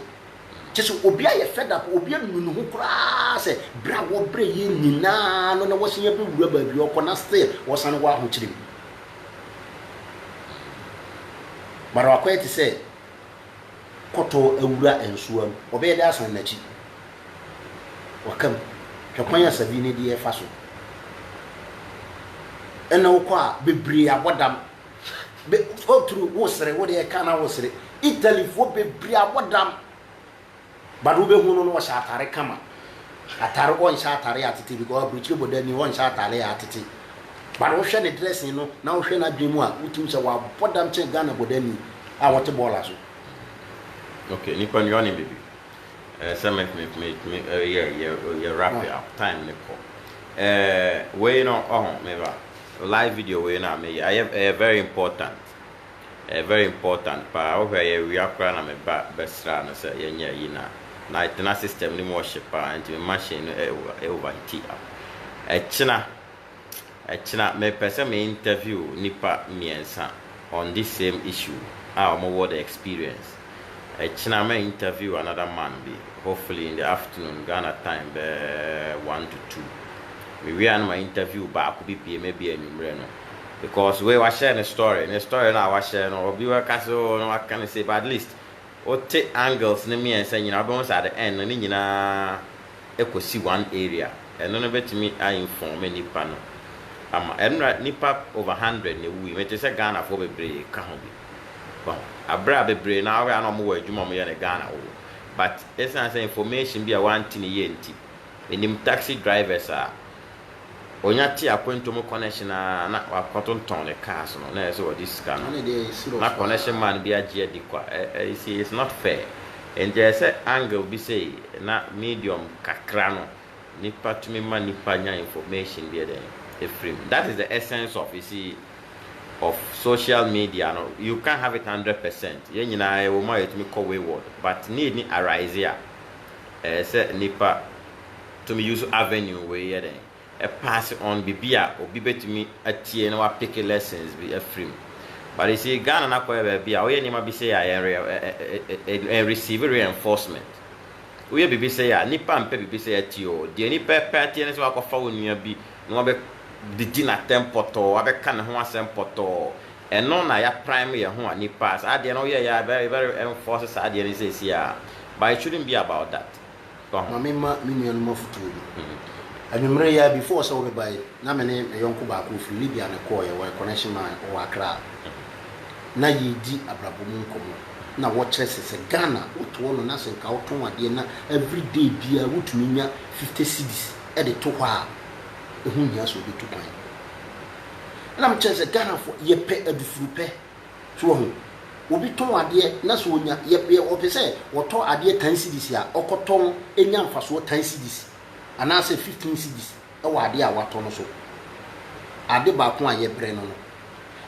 Kyɛ sɛ obi ayɛ fed up, obi anu ne ho koraa sɛ berɛ a wɔbrɛ yɛn nyinaa no na wɔsen abɛwura baabi a ɔkɔ na still wɔsane wɔ ahokyere mu. But wakɔyɛ te sɛ kɔtɔɔ awura nsoa mu, ɔbɛyɛ dɛ asan n'akyi. Waka mu, hwɛ kwan a Sabi ne deɛ fa so. Ɛna wokɔ a bebree abɔ dam. Be, oh true, wosere, wo deɛ ɛka na wosere. Italyfoɔ bebree abɔ dam. But wo bɛ hu no no ɔhyɛ atare kama atare ɔnhyɛ atare atete because abirikyire bɔ dani ɔnhyɛ atare yɛ atete but wo hwɛ ne dressing no na wo hwɛ n'adwene mu a wo tumi sɛ wa bɔ dam kyɛn Ghana bɔ dani a wɔte bɔɔla so. Okay nipa nua ɔne baby eh, sɛ me me me me eh, yɛ yɛ yɛ wrap it up time ne kɔ eh, wei no ɔho me ba live video wei no a meyɛ ayɛ ɛyɛ very important. Ɛyɛ very important paa wohwɛ yɛwea koraa na me ba bɛsraa no sɛ yɛnyɛ ayi no a na ɛtena system no mu ɔhye paa nti me machine no ɛ over heati a ɛkyena ɛkyena mepɛ sɛ me interview nipa mmiɛnsa on this same issue a wɔn wɔ the experience ɛkyena mɛ interview another man bi hopefully in the afternoon Ghana time bɛɛ one to two me wie a na ma interview baako bi bie mɛ bi anwummerɛ no. because wei wahyɛ ne story ne story no a wahyɛ no obi bɛka sɛ oh na waka no sei but at least wote angles no mmiɛnsa nyinaa wobɛhu sɛ at the end no ne nyinaa ɛkɔsi one area ɛno no bɛtumi a inform nnipa no ama ɛno na nnipa over hundred na ɛwui mete sɛ Ghanafoɔ bebree ka ho bi wahu aberɛ a bebree na wɔyɛ a na wɔwɔ adwuma a wɔyɛ no Ghana wɔ but ɛsiane sɛ information bi a wɔante ne yie nti ɛnim taxi drivers a Onya tee akwantu mu kɔnɛhyen ara na wakɔtontɔn ne cars no na ɛyɛ sɛ ɔde sika no na kɔnɛhyen man bi agye adi kwa ɛ you see it's not fair nti ɛyɛ sɛ angle bi sei na medium kakra no nipa tumi ma nipa nya information bi ɛdɛn ɛfiri mu that is the essence of you see of social media no you can't have it hundred percent yɛn nyinaa ɛwɔ mu a yɛtumi kɔ wayward but need ni arise a ɛyɛ sɛ nipa tumi use avenue wei yɛ dɛn pass on biribi a obi bɛtumi atie na wa pick lessons bi afiri mu but you see Ghana no akɔyɛ baabi a woyɛ nneɛma bi sei a yɛn yɛn receive reinforcement woyɛ biribi sei a nipa mpɛ biribi sei atie o deɛ nipa pɛ atie ne sɛ wakɔfa wo nua bi na wabɛ didi n'atɛm pɔtɔɔ wabɛka ne ho asɛm pɔtɔɔ ɛno na ya prime yɛn ho a nipa saa adeɛ no woyɛ yɛ very very enforce saa adeɛ no sɛ si a but it shouldn't be about that. Ma memma me nuanom afotuo bi. Anwummere yi ara, before sɛ wobɛba yi, na me ne me yɔnko baako a ɔfiri Libya na ɛkɔeɛ, ɔyɛ connection man, ɔwɔ Accra. Na yɛredi abrabɔ mu nkɔmmɔ, na wɔkyerɛ sɛ, sɛ Ghana wotoɔ no na sɛ nka wotɔn adeɛ na everyday biara wotumi nya fifty cedis de to hɔ a, ɛho nhia sɛ wobɛtu kwan. Ɛna mekyerɛ no sɛ, Ghanafoɔ, yɛpɛ adufurupɛ. So wahu? Obi tɔn adeɛ na sɛ ɔnya, yɛ, yɛ, ɔpɛ sɛ ɔtɔ adeɛ tan cedis a, ɔkɔtɔ no nya mfasoɔ tan cedis anaasɛ fifteen cedis wɔ adeɛ a watɔ no so. Ade baako a yɛbrɛ no no.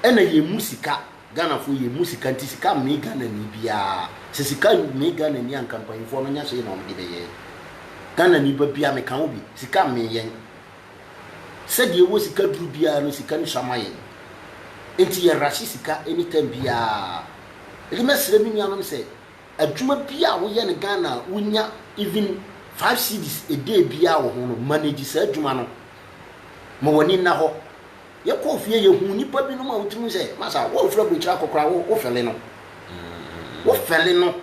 Ɛna yɛmmu sika, Ghanafoɔ yɛmmu sika nti sika mmee Ghanani biara. Sɛ sika mmee Ghanani a nka mpanyinfoɔ no nyɛ hwee na wɔde bɛyɛɛ. Ghanani ba biara, meka wo bi, sika mmee yɛn. Sɛ deɛ ɛwɔ sika duru biara no sika no sua ma yɛn nti yɛ rush sika any time biara nti mɛ srɛ me nuanom sɛ adwuma biara a wo yɛ no Ghana a wo nya even five cedis a day biara wɔ ho no manage saa adwuma no ma w'ani nna hɔ yɛ kɔɔ fie yɛ hu nipa bi no ma wo tiri mu sɛ masa wɔn fira bɔ akyire akɔkora wo wo fɛle no wo fɛle no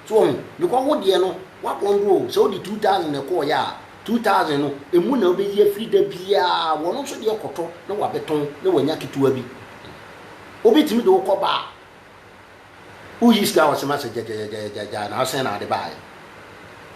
So wahu? Because wo deɛ no, w'akɔndoro o, sɛ wode two thousand na ɛkɔɔeɛ a, two thousand no, ɛmu na wobɛyi afiri da biara, wɔn nso deɛ kɔtɔ na wabɛtɔn na wanya ketewa bi. Obi tumi de wo kɔ bar, woyi sika a ɔsema sɛ gyagyagyagyagya na wosan na ade baeɛ.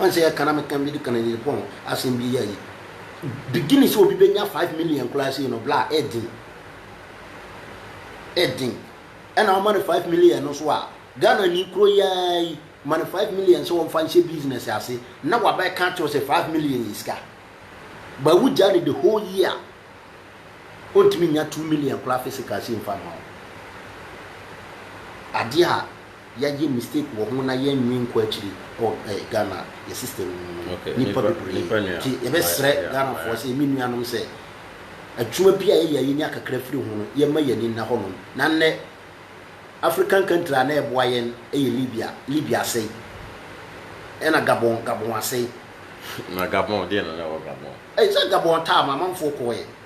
Ɔn sɛ yɛka na meka mede ka Nigerifoɔ ho asɛm bi ayi. Beginning sɛ obi bɛnya 5 million koraa sei no bla ɛden. Ɛden. Ɛna woma no 5 million no so a Ghana ni kuro yi ara yi ma no 5 million sɛ wɔmfa nhyɛ business ase na wabɛka akyerɛ sɛ 5 million yɛ sika. Ba wogyaa no the whole year a ɔntumi nya 2 million koraa physical sei mfa mma wo. Adeɛ a Yagye mistake wɔ ho na yɛn nwi nkɔ akyiri wɔ eh Ghana yɛ system no mu no nipa bebree nti yɛbɛ srɛ Ghana foɔ sɛ me nua nom sɛ adwuma bi a yɛyɛ a yɛnya kakra firi ho no yɛn ma yɛn ani nna hɔ nom na nnɛ African country a na ɛboa yɛn yɛ Libya Libya asɛe ɛna Gabon Gabon asɛe. Na Gabon deɛ na na ɛwɔ Gabon. Ɛyɛ sɛ Gabon taa ma amanfoɔ kɔɛ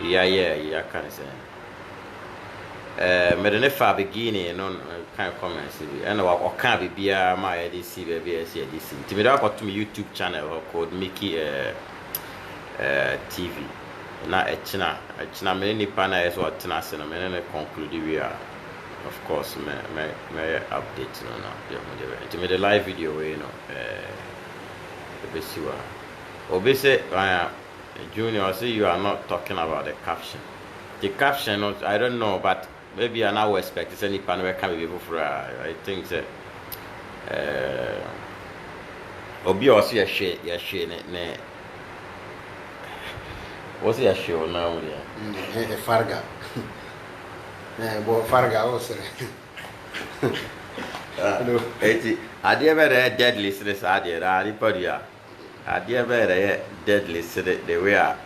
yɛayɛ a yɛaka ne sɛn? Ɛɛ mede no faa beginning no na mekan comments bi ɛna wa ɔkaa biribiara ma yɛde si baabi a ɛsɛ yɛde si nti mede akɔto me YouTube channel hɔ called Mickey ɛɛ ɛɛ TV na ɛkyena ɛkyena me ne nipa no a ɛsɛ ɔtena ase no me ne no conclude wie a of course mɛ mɛ mɛyɛ update no na yɛhu deɛ bɛyɛ nti mede live video wei no ɛɛ ɛbɛsi wɔ ha obi sɛ ɛɛ. Junior ɔse you are not talking about the caption nti caption no I don't know but ebia na wo expect sɛ nipa no bɛka biribi foforɔ a I think sɛ eh, obi a ɔse yɛhwe yɛhwe ne ne wɔse yɛhwe wo nan mu deɛ mm, farga eh, bɔ farga wo sere ɛti ah, adeɛ bɛ na ɛyɛ deadly sene saa deɛ na nipa dua Adeɛ bɛɛ na ɛyɛ deadly sene the way a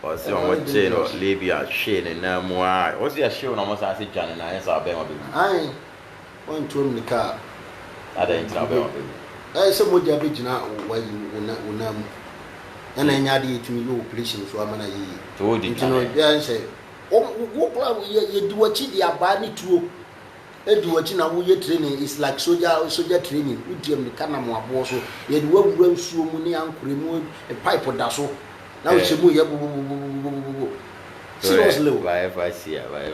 wɔse wɔn kyee no Libya hwee ne nan mu aa wɔse yɛhyew no a wɔn san se dwane no anyɛ saa a ɔbɛɛma bɛwu. Aane wɔntuo mmirika a. Adɛn nti na ɔbɛɛma bɛwu? Ɛyɛ sɛ mogya bɛgyina w'ayi wo nan mu ɛna ɛnyɛ adeɛ yɛtumi yɛ operation nso ama no ayɛ yie nti no ɛyɛ sɛ wo koraa yɛdi w'akyi de abaa ne tuo Edi w'akyi na wo yɛ training is like soja soja training wo di amirika nam wo aboɔ so yɛde wo awura nsuo mu ne ankorɛ mu pipe da so na wo hyɛ mu yɛ bobobobobobobobobo seriously o.